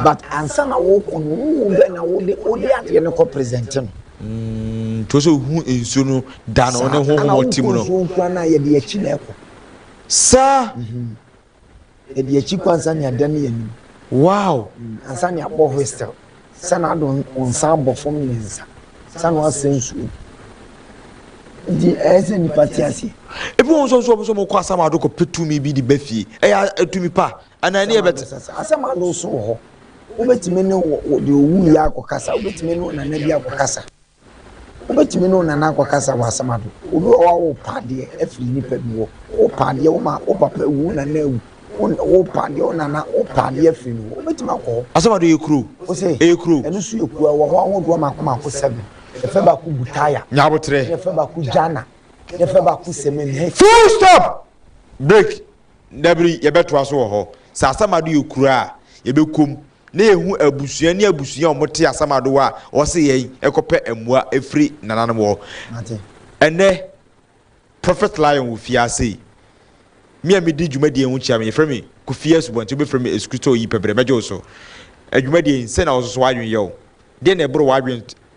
but ansa na wokɔ no wo hu dɛ na wo de wo de adeɛ no kɔ present no. Mm, to sɛ hu nsuo no da no ne ho ho ɔte mu no. Saa ɛna wokɔ nsuo nkura na yɛde akyi na ɛkɔ. Saa. Mm -hmm. Ɛdi akyi kɔ ansa ne adan ne anim. Wow! Ansa ne abɔ whistle. Sɛ na ado wo nsa abɔ fam mmiɛnsa. Sɛ na wasɛ nsuo mu. Nti ɛyɛ sɛ nipa te aseɛ. Ebi wɔn nso nso wɔn nso wɔn kɔ asam ado kɔ pɛ tumi bi de bɛ fie. Ɛyɛ atumi pa anaa ɛni ɛbɛ te. Asam ado so wɔ hɔ. Wobɛtumi ne wɔ deɛ owu yɛ akɔ kasa. Wobɛtumi ne onana bi akɔ kasa. Wobɛtumi ne wo nana akɔkasa wɔ asɛm ado. Obi wɔ hɔ a worepa adeɛ afiri nnipa bi hɔ. Worepa adeɛ, wo maa, wo papa awu, wo nana awu. Worepa adeɛ, wo nana, worepa adeɛ afiri no hɔ. Wobɛtumi akɔ hɔ. Asɛm ado yɛ kuro. Wose, Ɛyɛ kuro. Ɛno nso yɛ kuro. Ɛwɔ hɔ ahodoɔ mako mako seven. Yɛfrɛ baako Butaya. Nya aboterɛ. Ɛna yɛfrɛ baako Jana. Ɛna yɛfrɛ baako Semenhe. Full stop! Break! Dabiri, yɛbɛtoa so wɔ hɔ. Sɛ asɛm ado yɛ kuro a, yɛbɛkɔ mu na ehu abusua ne abusua a wɔte asɛm adowa a wɔse yɛn kɔpɛ mmoa firi nananom hɔ. Ɛnnɛ, Prophet Lion wɔ fie ha sei. Me a medi dwumadie ho kyia no, yɛfrɛ me Kofi Asubɔnten, wobɛfrɛ me Esukristoni pɛbrɛ, mɛgye wo so. Adwumadie yi, sɛn na wo nso so w'adwene yɛ wo? Deɛn na ɛboro w'adwene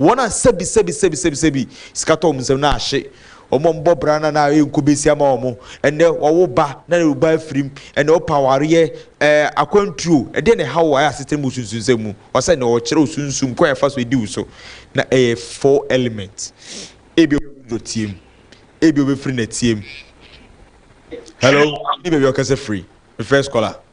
Wɔn a sɛbi sɛbi sɛbi sɛbi sɛbi sika tɔ wɔn nsam na ahye wɔn a wɔbɔ bra na na ayɛ nko besia ma wɔn. Ɛnnɛ wɔwo ba na wo ba afirim. Ɛnnɛ wɔpɛ awareɛ. Ɛɛ akwantuo, ɛdeɛn na ɛha wo a ɛyɛ asetena mu osunsunsɛm mu? Ɔsɛ na ɔkyerɛ wo sunsum kwan a ɛfa so di wo so. Na ɛyɛ four element. Ebia ɔbɛfiri dɔteɛ mu. Ebia ɔbɛfiri nɛteɛ mu. Hello? Ni baabi a ɔkasa firi. Me first caller.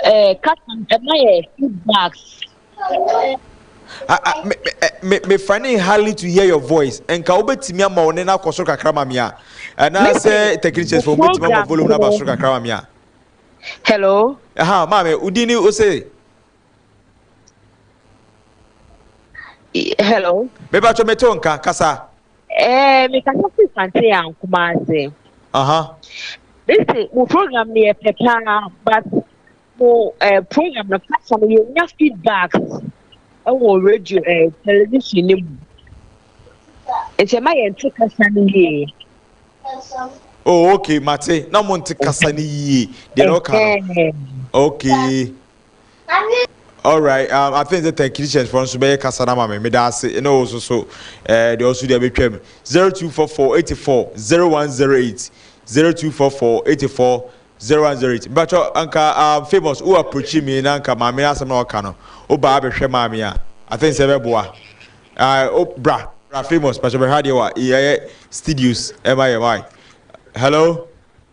Eh, Kakan, ɛma yɛ feedbacks. mefa ne hardly to hear your voice nka wobɛtumi ama wo ne no akɔ soro kakra ma me a anaasɛ technicians fo wobɛtumi ama volume no aba soro kakra ma me a hello aha maame wodi ni wo se hello mebatwɔ mete wo nka kasa Ɛɛ mekasa firi Fantee and Kumasi. Aha. Mese mo program no yɛ pɛ paa but mo eh, program no kasa no yɛnya feedback ɛwɔ radio eh, television no mu. Nti ɛma yɛnte kasa no yie. Oh, okay, mate. Na mo nte kasa no yie. Deɛ na ɔka no. Okay. Alright um I think sɛ Technicians foɔ nso bɛyɛ kasa no ama me meda ase ɛna wo nso so eh, deɛ ɔso deɛ bɛtwam 0244 84 0108 0244 84 0108 mpakyɛ anka um, famous wo approachi me na anka maame no asɛm na ɔka no wobaa bɛhwɛ maa me a I think sɛ ɛbɛboa ah, oh, bra bra famous mpakyɛ bɛhwɛ adeɛ wa yɛyɛ studios ɛma yɛ wae hello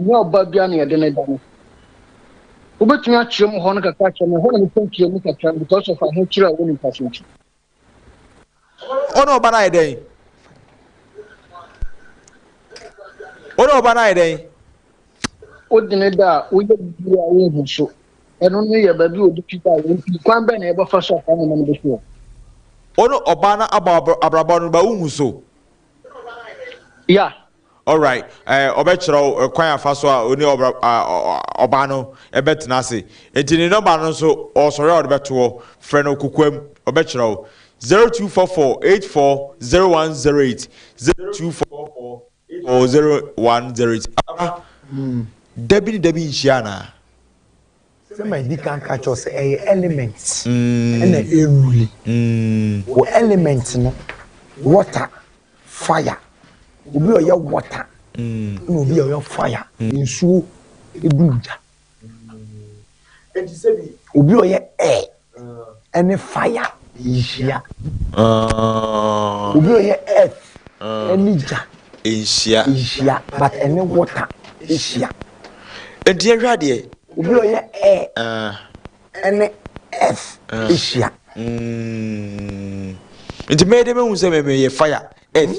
Nyɛ ɔbaa biara na yɛde no da no. Wobɛtumi akyerɛ mu hɔ no kakra akyerɛ me, ɛhɔ na mepɛ nkyerɛ mu kakra no because of ahokyerɛ a ɛwɔ nipa so nti. Wo ne ɔba no ayɛ dɛn? Wo ne ɔba no ayɛ dɛn? Wode ne da a woyɛ biribi a wohu so. Ɛno no yɛ baabi a ɔde fi da a wɔn pii kwan bɛn na yɛbɛfa so afa nneɛma no bɛsoɔ. Wo ne ɔba no abɔ abrabɔ no ba wohu so. Ya, Alright, ɛɛ, ɔbɛkyerɛ wo kwan a ɔfa so a ɔne ɔbra, a, ɔbaa no bɛtena ase. Enti ne nɔmba no nso, ɔresɔre a ɔde bɛto hɔ. Frɛ no kokoam, ɔbɛkyerɛ wo. Zero two four four eight four zero one zero eight, zero two four four eight four zero one zero eight. Abra, da bi ne da bi nhyia anaa? Sɛ ma di kan ka kyerɛ wo sɛ ɛyɛ element na ɛruli. Wɔ element no, water, fire. Obi a ɔyɛ water na obi a ɔyɛ fire. Nsuo duru gya. Obi a ɔyɛ air ɛne fire nhyia. Obi ɔyɛ earth ɛne gya nhyia nhyia but ɛne water hyia. Enti yɛhwɛ adeɛ. Obi ɔyɛ air ɛne earth hyia. Nti mɛyɛ dɛ mɛhu sɛ mɛmɛ yɛ fire earth.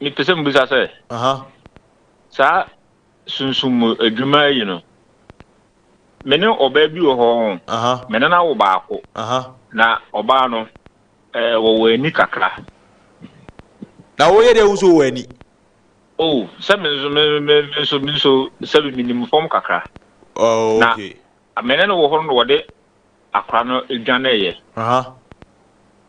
Mepɛ sɛ mubisa sɛ. Aha. Saa sunsum mu adwuma yi no, me ne ɔbaa bi wɔ hɔ. Aha. Me ne no awo baako. Aha. Na ɔbaa no, eh, wɔwɔ ani kakra. Na woyɛ dɛ wo nso wɔ ani. Oh, sɛ me nso, me, me, me nso, me nso, sɛ me menim fam kakra. Oh, okay. Na me ne no wɔ hɔ no na wɔde akora no dwaneeɛ. Aha.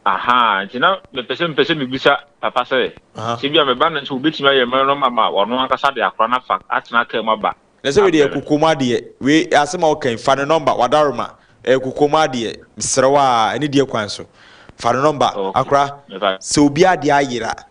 Ahaa, nti na mepɛ sɛ mepɛ sɛ mebisa papa sɛ, Aha. sɛ bia meba no nso wɔbɛtumi ayɛ mmerɛ no ma ma ɔno ankasa de akora no afa atena kaa mu aba Na sɛ wei deɛ ɛyɛ abrɛ kokoam adeɛ, wei asɛm a woka yi, fa ne nɔmba, w'adaworoma, ɛyɛ kokoam adeɛ, mesrɛ wo a, ɛne deɛ kwan so, fa ne nɔmba, no? Ok, akora, mepa. sɛ obiara deɛ ayera,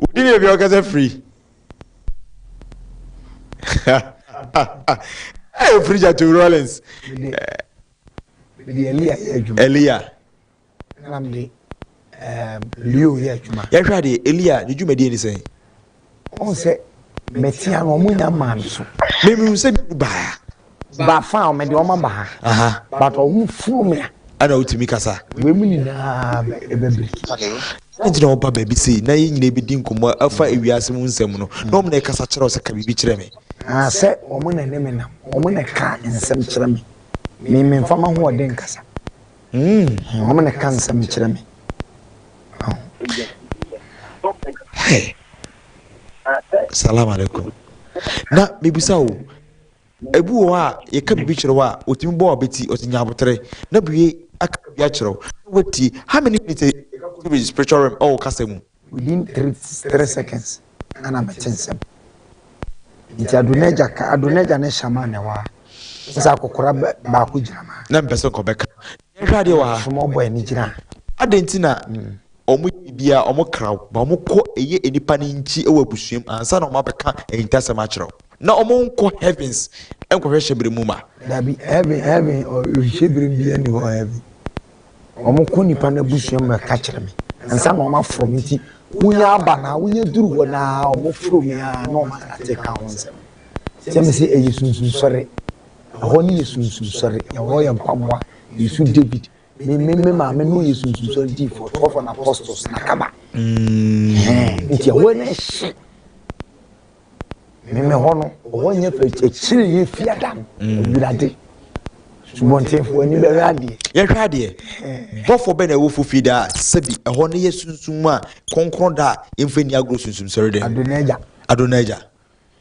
Wodi ne bia ɔkasa firi. Ɛyɛ firi gya to Rollins. Mede Elia yɛ adwuma. Elia. Ɛna mede ehm, Leo yɛ adwuma. Yɛhwɛ adeɛ Elia ne dwumadie ne sɛn? Ɔn sɛ mɛtia no ɔmo nya maa me so. Memihu sɛ bi baa. ba fa a mede wɔn aba ha but wɔn furu me a ɛna wotumi kasa wei mu nyinaa ɛbɛbiriki ɛna nti na wɔba baabi sei na yɛn nyinaa bɛdi nkɔmmɔ afa ewiase mu nsɛm no na wɔn na ɛkasa kyerɛ sɛ ka biribi kyerɛ me sɛ wɔn na ne me nam wɔn na ɛka nsɛm kyerɛ me me me nfa ma ho ɔde nkasa hmm. wɔn na ɛka nsɛm kyerɛ me Hey. Salam alaikum. Na mibisa o Ebi wɔ hɔ a, yɛka biribi kyerɛ wo a, otumi bɔ w'abeti, ɔsi nya abotere, na bue aka biribi akyerɛ wo, na woatie. How many minutes a yɛka kɔ so spiritual realm ɛwɔ kasa mu? Within three three seconds ɛna mete nsɛm. Nti Adonagya ka, Adonagya ne Shaman na ɛwɔ ha. Sɛ akɔkora baako gyina mu a. Na mepɛ sɛ nkɔbɛka. Yɛnhwɛ adeɛ wɔ ha. Soma ɔbɔ ani gyina. Adɛn nti na wɔn yɛ bibia wɔn kra wo ba wɔn kɔ ɛyɛ nipa ne nkyi wɔ abusuam ansa na wɔn abɛka ahintasɛm akyerɛ wo na wɔn nkɔ heavens nkɔhwɛ hyɛbere mu ma. Dabi heaven heaven hyɛbere mu bia ni hɔ heaven wɔn kɔ nipa no abusua mu ɛka kyerɛ me ansa na wɔn aforo me nti wonya aba na wonya duru hɔ na wɔn foro me a na wɔn ate ka ho nsɛm sɛ me sɛ ɛyɛ sunsun sɔre Ɛhɔ ne yɛ sunsum sɔre, ɛhɔ yɛ mpaboa, yɛ su David. Me me me maame no yɛ sunsum sɔre di for twelve and apostles na kaba. Mm. Nti ɛhɔ ne ɛhye. Me me hɔ no, ɛhɔ nyɛ fɛ akyire yɛ fi adam. Awurade. Subɔntenfoɔ ani bɛhwɛ adeɛ. Yɛhwɛ adeɛ. Bɔfoɔ bɛ na ɛwɔ fofi da a sɛbi ɛhɔ ne yɛ sunsum a kɔnkɔn da a yɛmfa ni agorɔ sunsum sɔre dɛ. Adonaagya. Adonaagya.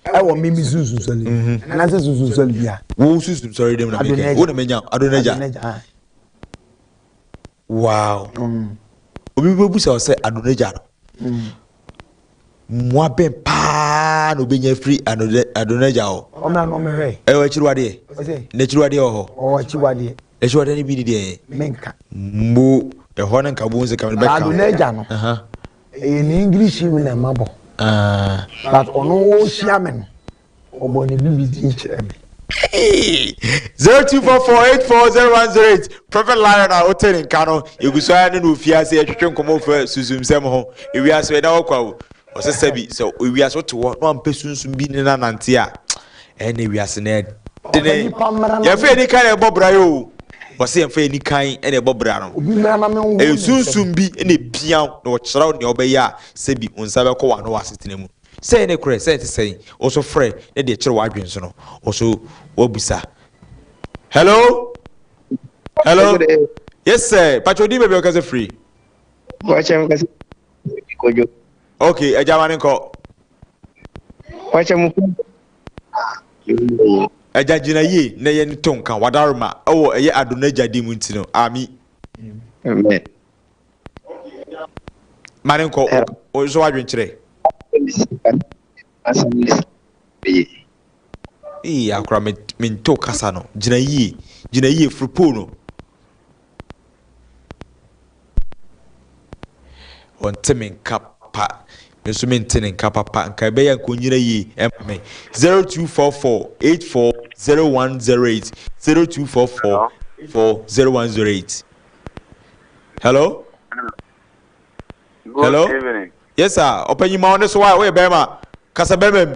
ɛwɔ me me sunsun sɔre mu anaasɛ sunsun sɔre bi a. wo sunsun sɔre dɛm na mi kɛ wo na mi nya adonagya wow obi bɛ busa ɔsɛ adonagya no mmoa bɛn paa na obɛnya afiri adonagya hɔ ɛwɔ akyiriwadeɛ na akyiriwadeɛ wɔ hɔ akyiriwadeɛ no bi ne deɛ mbo ɛhɔ no nka bohu sɛ kamene bɛka adonagya no Ɛyɛ ne English mu na mabɔ. Aah but ɔno ɔhyia me no ɔbɔ ne bibi din kyerɛ me. Zero two four four eight four zero one zero eight Prophet Lion a wote ne nka no yɛgu so ara ne no ofie ase ɛtwetwe nkɔmmɔ fa sunsumsɛm ho ewiase ɛda hɔ kwa o ɔsɛ sɛ bi sɛ ewiase wote hɔ na wampɛ sunsum bi ne no anante a Ɛnɛ wiase no yɛ dene. Yɛmfa ani kan na ɛbɔ bra yi o. Wɔse yɛmfa ani kan na ɛbɔ bra no. Ɛyɛ sunsum bi na epia wo na ɔkyerɛ wo nea wobɛyɛ a sɛbi wo nsa bɛkɔ w'ano wɔ asetena mu. Sɛ ɛyɛ nokorɛ, sɛ ɛnte sɛn, wo nso frɛ na deɛ ɛkyere w'adwene so no wo nso woabisa. Hello? Hello? Yes sir, mpakyɛ odin baabi a wokasa firi? Mpakyɛ mekasa firi Kodwo. Okay, agya ma no nkɔ. Wakyɛ mo kɔ. Agya gyina yie na yɛn to nka wadarema ɛwɔ ɛyɛ ado no agya din mu nti no ami. Amen. Ma ne nkɔ o nso wadwen kyerɛ. Asɛm ne sɛ beye. Ee akora me nto kasa no gyina yie gyina yie firi pole no. Ɔnte me nka papa, me nso mente ne nka papa, nka ɛbɛyɛ a nka ɔnyina yie ɛma me. 0244 84 0108 0244 84 0108 Hello? Good Hello? evening. Yes sir, ɔpanyin ma wo ne so a, woyɛ bɛrima, kasa bɛrima mu.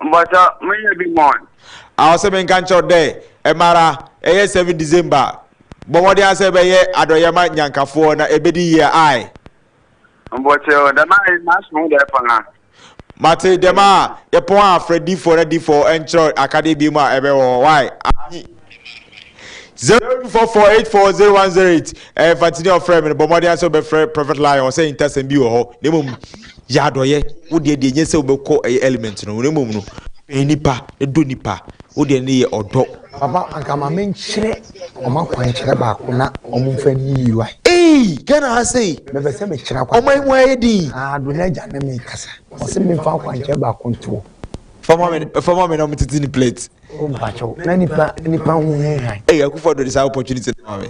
Mbasa menyɛ bi mɔn. A Ɔse menka nkyerɛ wo dɛ ɛmara ɛyɛ seven December bɔ mmɔden ara sɛ ɛbɛyɛ adɔyɛ ma Nyankafoɔ na ɛbɛdi yie ae. Mbokyɛ o, dɛm a yɛ maso ho dɛ paa. Mate dɛm a yɛpɔn a frɛ difoɔ na difoɔ nkyerɛw akadeɛ binom a ɛbɛwɔ hɔ wai anyi. zero two four four eight four zero one zero eight ɛɛ eh, fantini ɔfrɛ mi no bɔ mmɔden asɛ ɔbɛfrɛ prophet lion ɔsɛ ntasɛm bi wɔ hɔ na mmom yɛ adɔyɛ wo deɛ deɛ nyɛ sɛ wobɛkɔ ɛyɛ element no na mmom no pɛn nipa dɔ nipa wo deɛ ne yɛ ɔdɔ. papa anka ma me nkyerɛ ɔmo akwankyerɛ baako na ɔmo nfa ni yi wa. ee ghana ha sei. mepɛ sɛ mekyerɛ akwa. ɔmo ayi mu ayɛ din. aa do na agya ne mi kasa ɔsɛ mi nfa akwankyerɛ baako ntoɔ. fama mi fama mi na ɔmo tete ne plate. o mpakyɛw na nipa nipa ho hɛn han. ɛyɛ akufo ado de saa opportunity no ma me.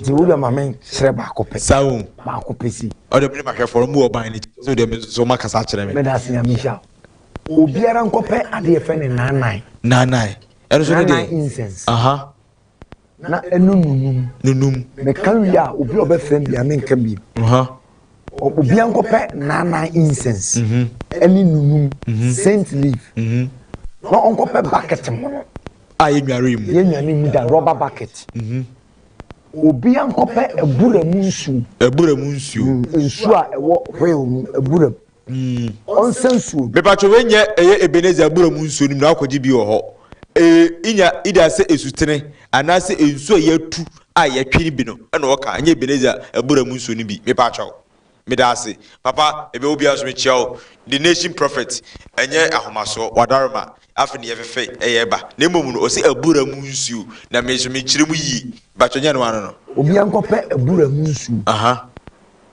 nti wo deɛ ma me nkyerɛ baako pɛ. saa o baako pɛ si. ɔde me ne mahwɛfoɔ no mu wɔ ban no ti so deɛ me nso so ma kasa akyerɛ me. meda ase nyame nhyira wo obiara nkɔpɛ adeɛ fɛ ne naanan. naanan ɛno nso ne deɛ. naanan incense. aha. na ɛno nunum. Nunum. Meka wie a, obi a ɔbɛfrɛ me bia menka bio. Obi ankɔpɛ naanan incense ɛne mhm. nunum mhm. saint leaf mhm. na ɔnkɔpɛ bucket mu no. A yɛnware mu. Yɛnware mu da rubber bucket. Obi ankɔpɛ abura mu nsuo. Abura mu nsuo. Mm, nsuo a ɛwɔ wheel mu abura mu. Mm. Ɔnsɛ nsuo no. Mepatwo wei nyɛ ɛyɛ Ebenezer abura mu nsuo no mu na wakɔgye bi wɔ hɔ ee inya ida sɛ esutene anaasɛ nsuo a yɛatu a yɛtwe no bi no ɛna ɔka ɛnyɛ Ebenezer abura mu nsuo no bi mepatwa wo medaase papa mebɛ wo biara so mekyia wo the nation prophet ɛnyɛ ahomasoɔ wadarema afe ne yɛfefɛ ɛyɛ ɛba na mmom no ɔsɛ abura mu nsuo na me so mekyerɛ mu yie mepatwa nyɛ no ano no obi ankɔpɛ abura mu nsuo aha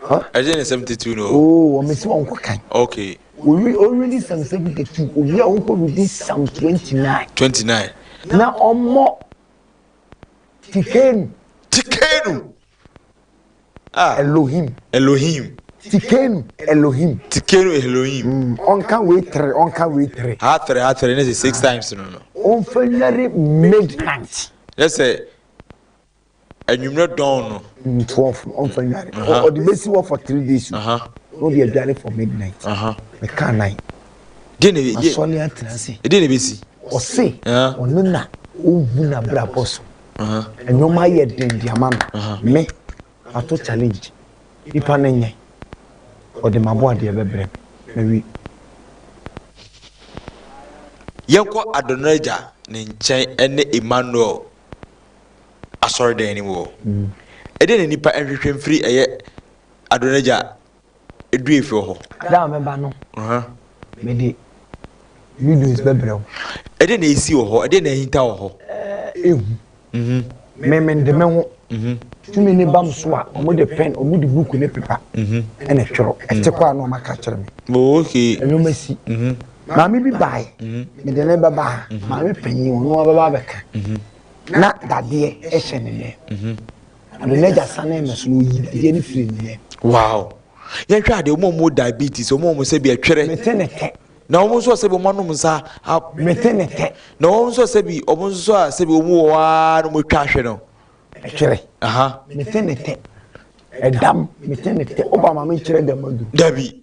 Huh? Ɛgye ne seventy two no. Oo wɔn si wɔn kɔ kan. Okay. Owi owi di sam seventy two owi a wɔn kɔ wi di sam twenty nine. Twenty nine. Na ɔmɔ tikenu. Tikenu. Ah. Elohim. Elohim. Tikenu Elohim. Tikenu Elohim. Mm, ɔnka wei tere ɔnka wei tere. Ha tere ha tere ne sɛ six ah. times no no. Ɔnfɛ nyare midnight. Yɛ sɛ. anwummerɛ dɔn no. twelve ɔnfa nwane ɔde bɛsi hɔ for three days o na ɔde adware for midnight meka nan asɔre atena ase ɛdeɛ na ɛbɛsi ɔse ɔno na ɔhu no abrabɔ so ɛnwoma ayɛ den de ama no me ato challenge nipa no nyɛ ɔde mabɔ adeɛ bɛbrɛ me mawi yɛnkɔ adɔnɔ agya ne nkyɛn ne emmanuel asɔredan no mu hɔ. Ɛdeɛn na nnipa nhwehwɛ mfiri ɛyɛ Adonegya duafoɔ hɔ? Da a mɛba no, mede videos bɛbrɛ wo. Ɛdeɛn na ɛresi wɔ hɔ? Ɛdeɛn na ahinta wɔ hɔ? Ɛhu. Me mede me ho. Tumi no ba me so a, wɔde pɛn, wɔde book ne pepa na ɛtwerɛ. Ɛte kɔ a na wɔaka akyerɛ me. Nnoɔma si. Maame bi baeɛ, mede no bɛba ha, maame panin, ɔno ara bɛba abɛka. na dadeɛ hyɛ ne nan mu na me n'agya sanee me so na ɔyi dadeɛ no firi ne nan mu. wow yɛnhwɛ adeɛ wɔn a wɔn diabetes wɔn a wɔn sɛ bi ɛtwerɛ mete ne tɛ na wɔn nso sɛ bi wɔn anom nsa a mete ne tɛ na wɔn nso sɛ bi wɔn nso a sɛ bi wɔn wɔ hɔ ara na wɔn atwa ahwɛ no ɛtwerɛ aha mete ne tɛ ɛdam mete ne tɛ ɔba maame nkyerɛ dɛm adu dabi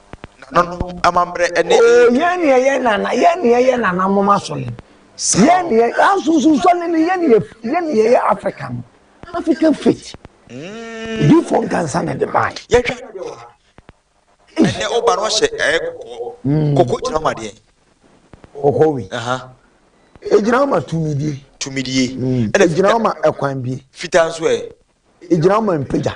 nananom amammerɛ ne eyi. Oo yɛn ne ɛyɛ nana yɛn ne ɛyɛ nananom asɔre yɛn ne yɛ asunsun sɔre ne yɛn ne yɛn ne yɛyɛ Africa no African faith difoɔ nkansa na ɛde baa yi. Yɛtwa no deɛ wɔ ha ɛnɛ ɔba no ɔhyɛ ɛyɛ kɔkɔɔ hmm. kɔkɔɔ gyina ma deɛ. Kɔkɔɔ wi. Egyina ma tumidie. Tumidie. Hmm. Ɛna gyina ma ɛkwan bie. Fitaa nso ɛ. Egyina ma mpagya.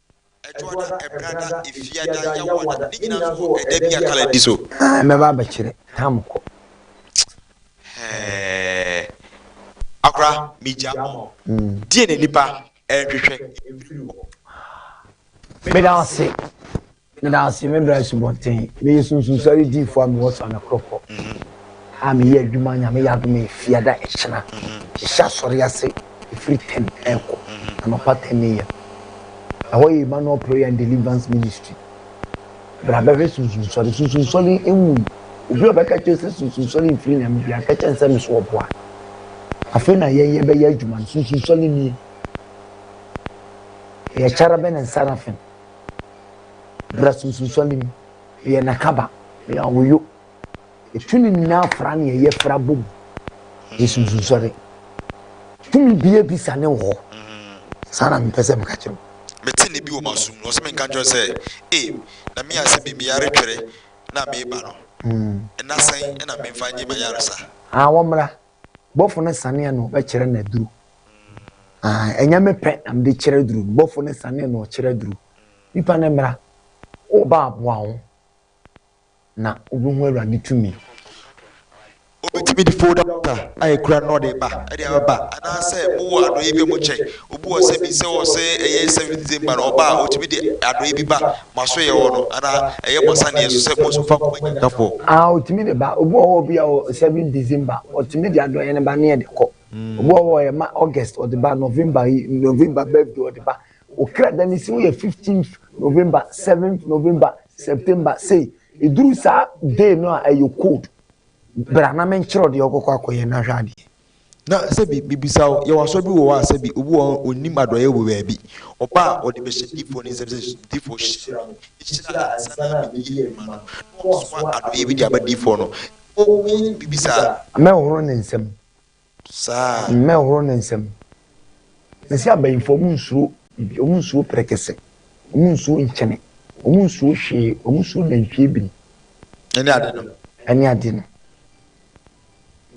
Ɛtoada, Ɛberada, Efiada, Yawada, ne nyinaa nso wɔ ɛda bi a Kala di so. Aah mɛba abɛkyere tam kɔ. Hɛɛɛɛ akora me gya ɔɔ. Deɛ na nipa ɛnhwehwɛ ɛfiri hɔ. Meda wo ase, meda wo ase, me bra asubɔnten, meyɛ sunsum sɔre diifoɔ a mewɔ Sane Krɔkɔ a meyɛ adwuma Nyame yɛ adom a Efiada ɛkyena, hyehyɛ asɔre ase Ɛfiri ten ɛrekɔ anɔpa ten AM. Ɛhɔ yɛ Emmanuel Prayer and Deliverance Ministry. Bra bɛhwɛ sunsunsɔre. Sunsunsɔre nwui. Obi a ɔbɛka kyerɛ sɛ sunsunsɔre mfiri Nyame bia ka kyerɛ sɛ ne so ɔboa. Afei na yɛn yɛbɛyɛ adwuma no. Sunsunsɔre nie. Ɛyɛ cherubim and seraphim. Bra sunsunsɔre mu. Meyɛ n'akaba. Meyɛ awoyo. Tumi nyinaa fra nea ɛyɛ fra bom. Yesu nso sɔre. Tumi bia bi sa ne wɔ. Saa na mepɛ sɛ meka kyerɛ wo. Mete ne bi wɔ m'asom no, ɔsɛ menka nkyerɛ sɛ, e, na me ase me meyare twere na meba no. Nna sɛn na memfa nye m'ayaresa? Aa, wɔmmra. Bɔfo no sanee na ɔbɛkyerɛ no aduru. Aa, ɛnyɛ me pɛ na mede kyerɛ aduru no. Bɔfo no sanee na ɔkyerɛ aduru. Nipa no mmra. Wo ba aboa wo. na obehu Awurade tumi. Obetumi de folda bata a ekura no na ɔde reba de abɛba anaasɛ mowɔ adɔeɛ bi a mokyɛ obi wɔ asɛm bi sɛ ɔwɔ sɛ ɛyɛ Seventh Day mma no ɔba a ɔtumi de adɔeɛ bi ba mo asoeɛ hɔ no anaa ɛyɛ mo asaneɛ so sɛ mo nso mofa nkɔma Nyankafoɔ. Aah ɔtumi de ba. Obi wɔ hɔ bi a ɔwɔ Seventh December ɔtumi de adɔeɛ no ba ne yɛde kɔ. Obi wɔ hɔ a ɔyɛ ma August ɔde ba, November yi November birthday ɔde ba. Okra da ne siw yɛ fifteenth November, seventh November, September sei eduru saa day no a ɛyɛ cold. Bra na menkyerɛ wo deɛ wobɛkɔ akɔyɛ na hwɛ adeɛ. Na sɛbi mebisa wo, yɛwɔ asɔre bi wɔ hɔ a sɛbi obi wɔ hɔ a ɔnnim adɔeɛ wɔ baabi, ɔba a ɔde bɛhyɛ diifoɔ no nsam sɛ diifoɔ hyira me, hyira a ansa na mebɛyɛ adwuma no na wasoa adɔeɛ bi de aba diifoɔ no, wowɔ biribi saa? Mɛhohoro ne nsam saa. Mmɛhoro ne nsam. Sɛsi abayinfoɔ ɔmo nsuro bibi ɔmo nsuro prɛkɛsɛ ɔmo nsuro nkyene ɔmo nsuro hwee ɔmo nsuro nantwie biri. Ɛne ade no. Ɛne ade no.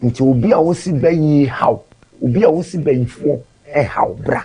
Nti obi a wosi bayie haw obi a wosi bayinfoɔ haw bra.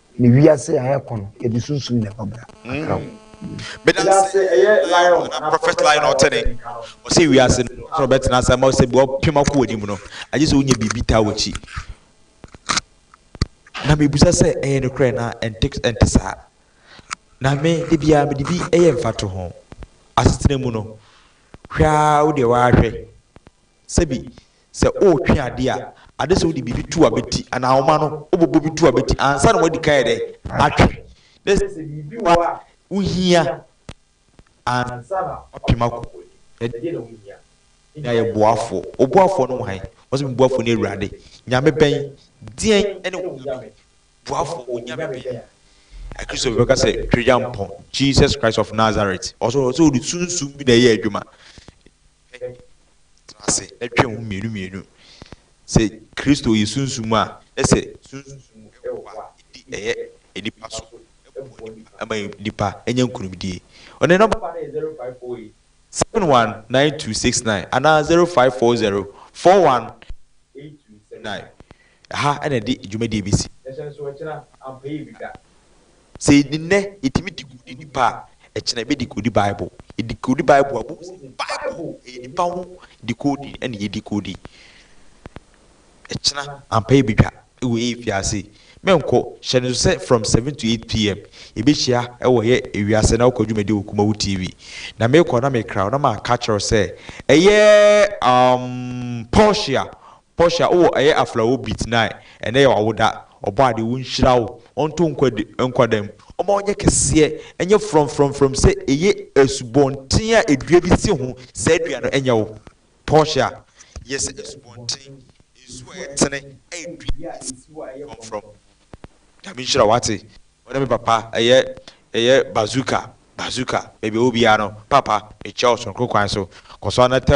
Ne wiase a ɛkɔ no yɛde sunsum na ɛbɔ bra kakra o. Medase ɛyɛ lion anaa prophet lion a ɔte ne nka no. Ɔse wiase no na ɔbɛtena ase ama sɛ bua ɔpem akɔ w'anim no agye sɛ wonya biribi taa w'akyi. Na mebisa sɛ ɛyɛ nokorɛ anaa ɛnte ɛnte saa. Na me da biara mede bi yɛ mfatoho. Asetena mu no hwɛ ara wo deɛ w'ara hwɛ Sɛbi, sɛ woretwe ade a, ade sɛ wode biribi to w'abati anaa woma no wobobɔ bi to w'abati ansa na woadi kan ayɛ dɛn? Atwe. Na ɛsɛ sɛ biribi wɔ hɔ a wohia ansa na woapem akɔ w'anim. Ɛdeɛn na wohia? Nya yɛ boafoɔ. Wo boafoɔ no wɔ han? Ɔse, me boafoɔ ne Awurade. Nyame bɛn? Deɛn ne wo Nyame? Boafoɔ, wo Nyame bɛn? Akristofo bɛka sɛ Tweagyampɔn, Jesus Christ of Nazareth. Ɔse, ɔse wode sunsum bi na ɛyɛ adwuma. Hwɛ, tena ase na twɛn ho mmienu mmienu. Sɛ Kristo yɛ sunsum a, na sɛ sunsum wɔ hɔ a, edi ɛyɛ nnipa so, ɛboa nnipa, ɛma nnipa nya nkonimdie. Ɔne nɔmba no yɛ 0548 719269 anaa 0540 418279. Ɛha na ɛde dwumadie bɛsi. Hyɛ nsoɔ, kyena ampa yi retwa. Sɛ nnɛ yɛtumi de kodi nnipa a, ɛkyena yɛbɛde kodi Bible. Yɛde kodi Bible a, bohu sɛ Bible ɛyɛ nnipa ho dekodi na yɛde kodi. Ɛkyena ampa yɛbɛdwa wɔ yɛn mfiase. Mɛnkɔ, hyɛ no nso sɛ from 7 to 8 PM yɛbɛhyia wɔ yɛ ewiase na wokɔ dwumadie wɔ Kumawu TV. Na mekɔ na mekra wo na maka akyerɛ wo sɛ ɛyɛ um Portia Portia wowɔ ɛyɛ aflawo bi tnae ɛnɛ yɛ wawoda ɔbɔadeɛ onhyira wo ɔnto nkwa di nkwa da mu ɔma ɔnyɛ kɛseɛ ɛnyɛ frɔmm frɔmm frɔmm sɛ ɛyɛ asubɔnten a ɛdua bi si ho saa dua no ɛnyɛ wo Portia yɛ sɛ asubɔnten nsuo a ɛtene ɛyɛ dua bi a ɛsi hɔ a ɛyɛ frɔmm frɔmm Nyame nhyira wo wate. Ɔne me papa ɛyɛ ɛyɛ bazooka bazooka baabi ɔwɔ biara no papa mekyia wo sononko kwan so kɔso ara na tɛ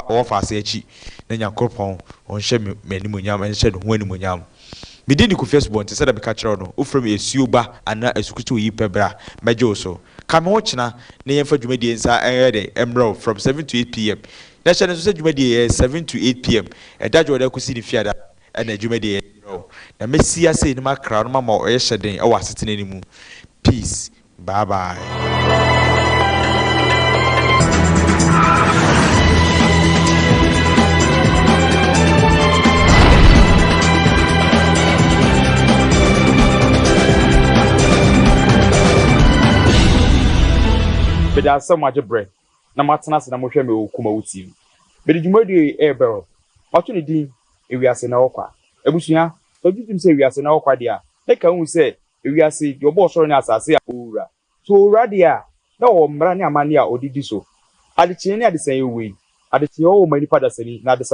ɔwɔ faase akyi na nyankoropɔn ɔnhyɛ me m'animuonyam ɛnhyɛ ne ho animuonyam me din de kofi asubɔn te sɛdeɛ meka kyerɛ wo no wofrɛ me asuo ba anaa asukusuo yi pɛ bra mɛgye wo so ka me ho kyena na yɛmfa dwumadie nsa ɛnyɛ dɛn ɛmmerɛ wo from seven to eight pm na hyɛ no nso sɛ dwumadie yɛ seven to eight pm ɛda dwoɔda kosi ne fiada Ɛna adwuma deɛ yɛ kyerɛ wo. Na mɛsi ase anim akra wo na mama wo ɛhyɛ den wɔ asetena no mu. Peace. Bye bye. Meda ase sɛ moagye berɛ. na moatena ase na mohwɛ me wɔ Kumawu TV. Mede dwumadie yi rebɛw. Mato ne din Ewiase na Ɛwɔ Kwa. Abusua, sɛ wogye tom sɛ ewiase na ɛwɔ kwa deɛ a, na ɛka wo hu sɛ ewiase, deɛ ɔbɔɔ ɔsoro ne asase a ɔwura. So ɔwura deɛ a, na ɔwɔ mmara ne amanneɛ a ɔde di so. Adekyeeɛ ne adesaeɛ wɔ yi. Adekyeeɛ wɔ ma nnipa dasani, na adesaeɛ.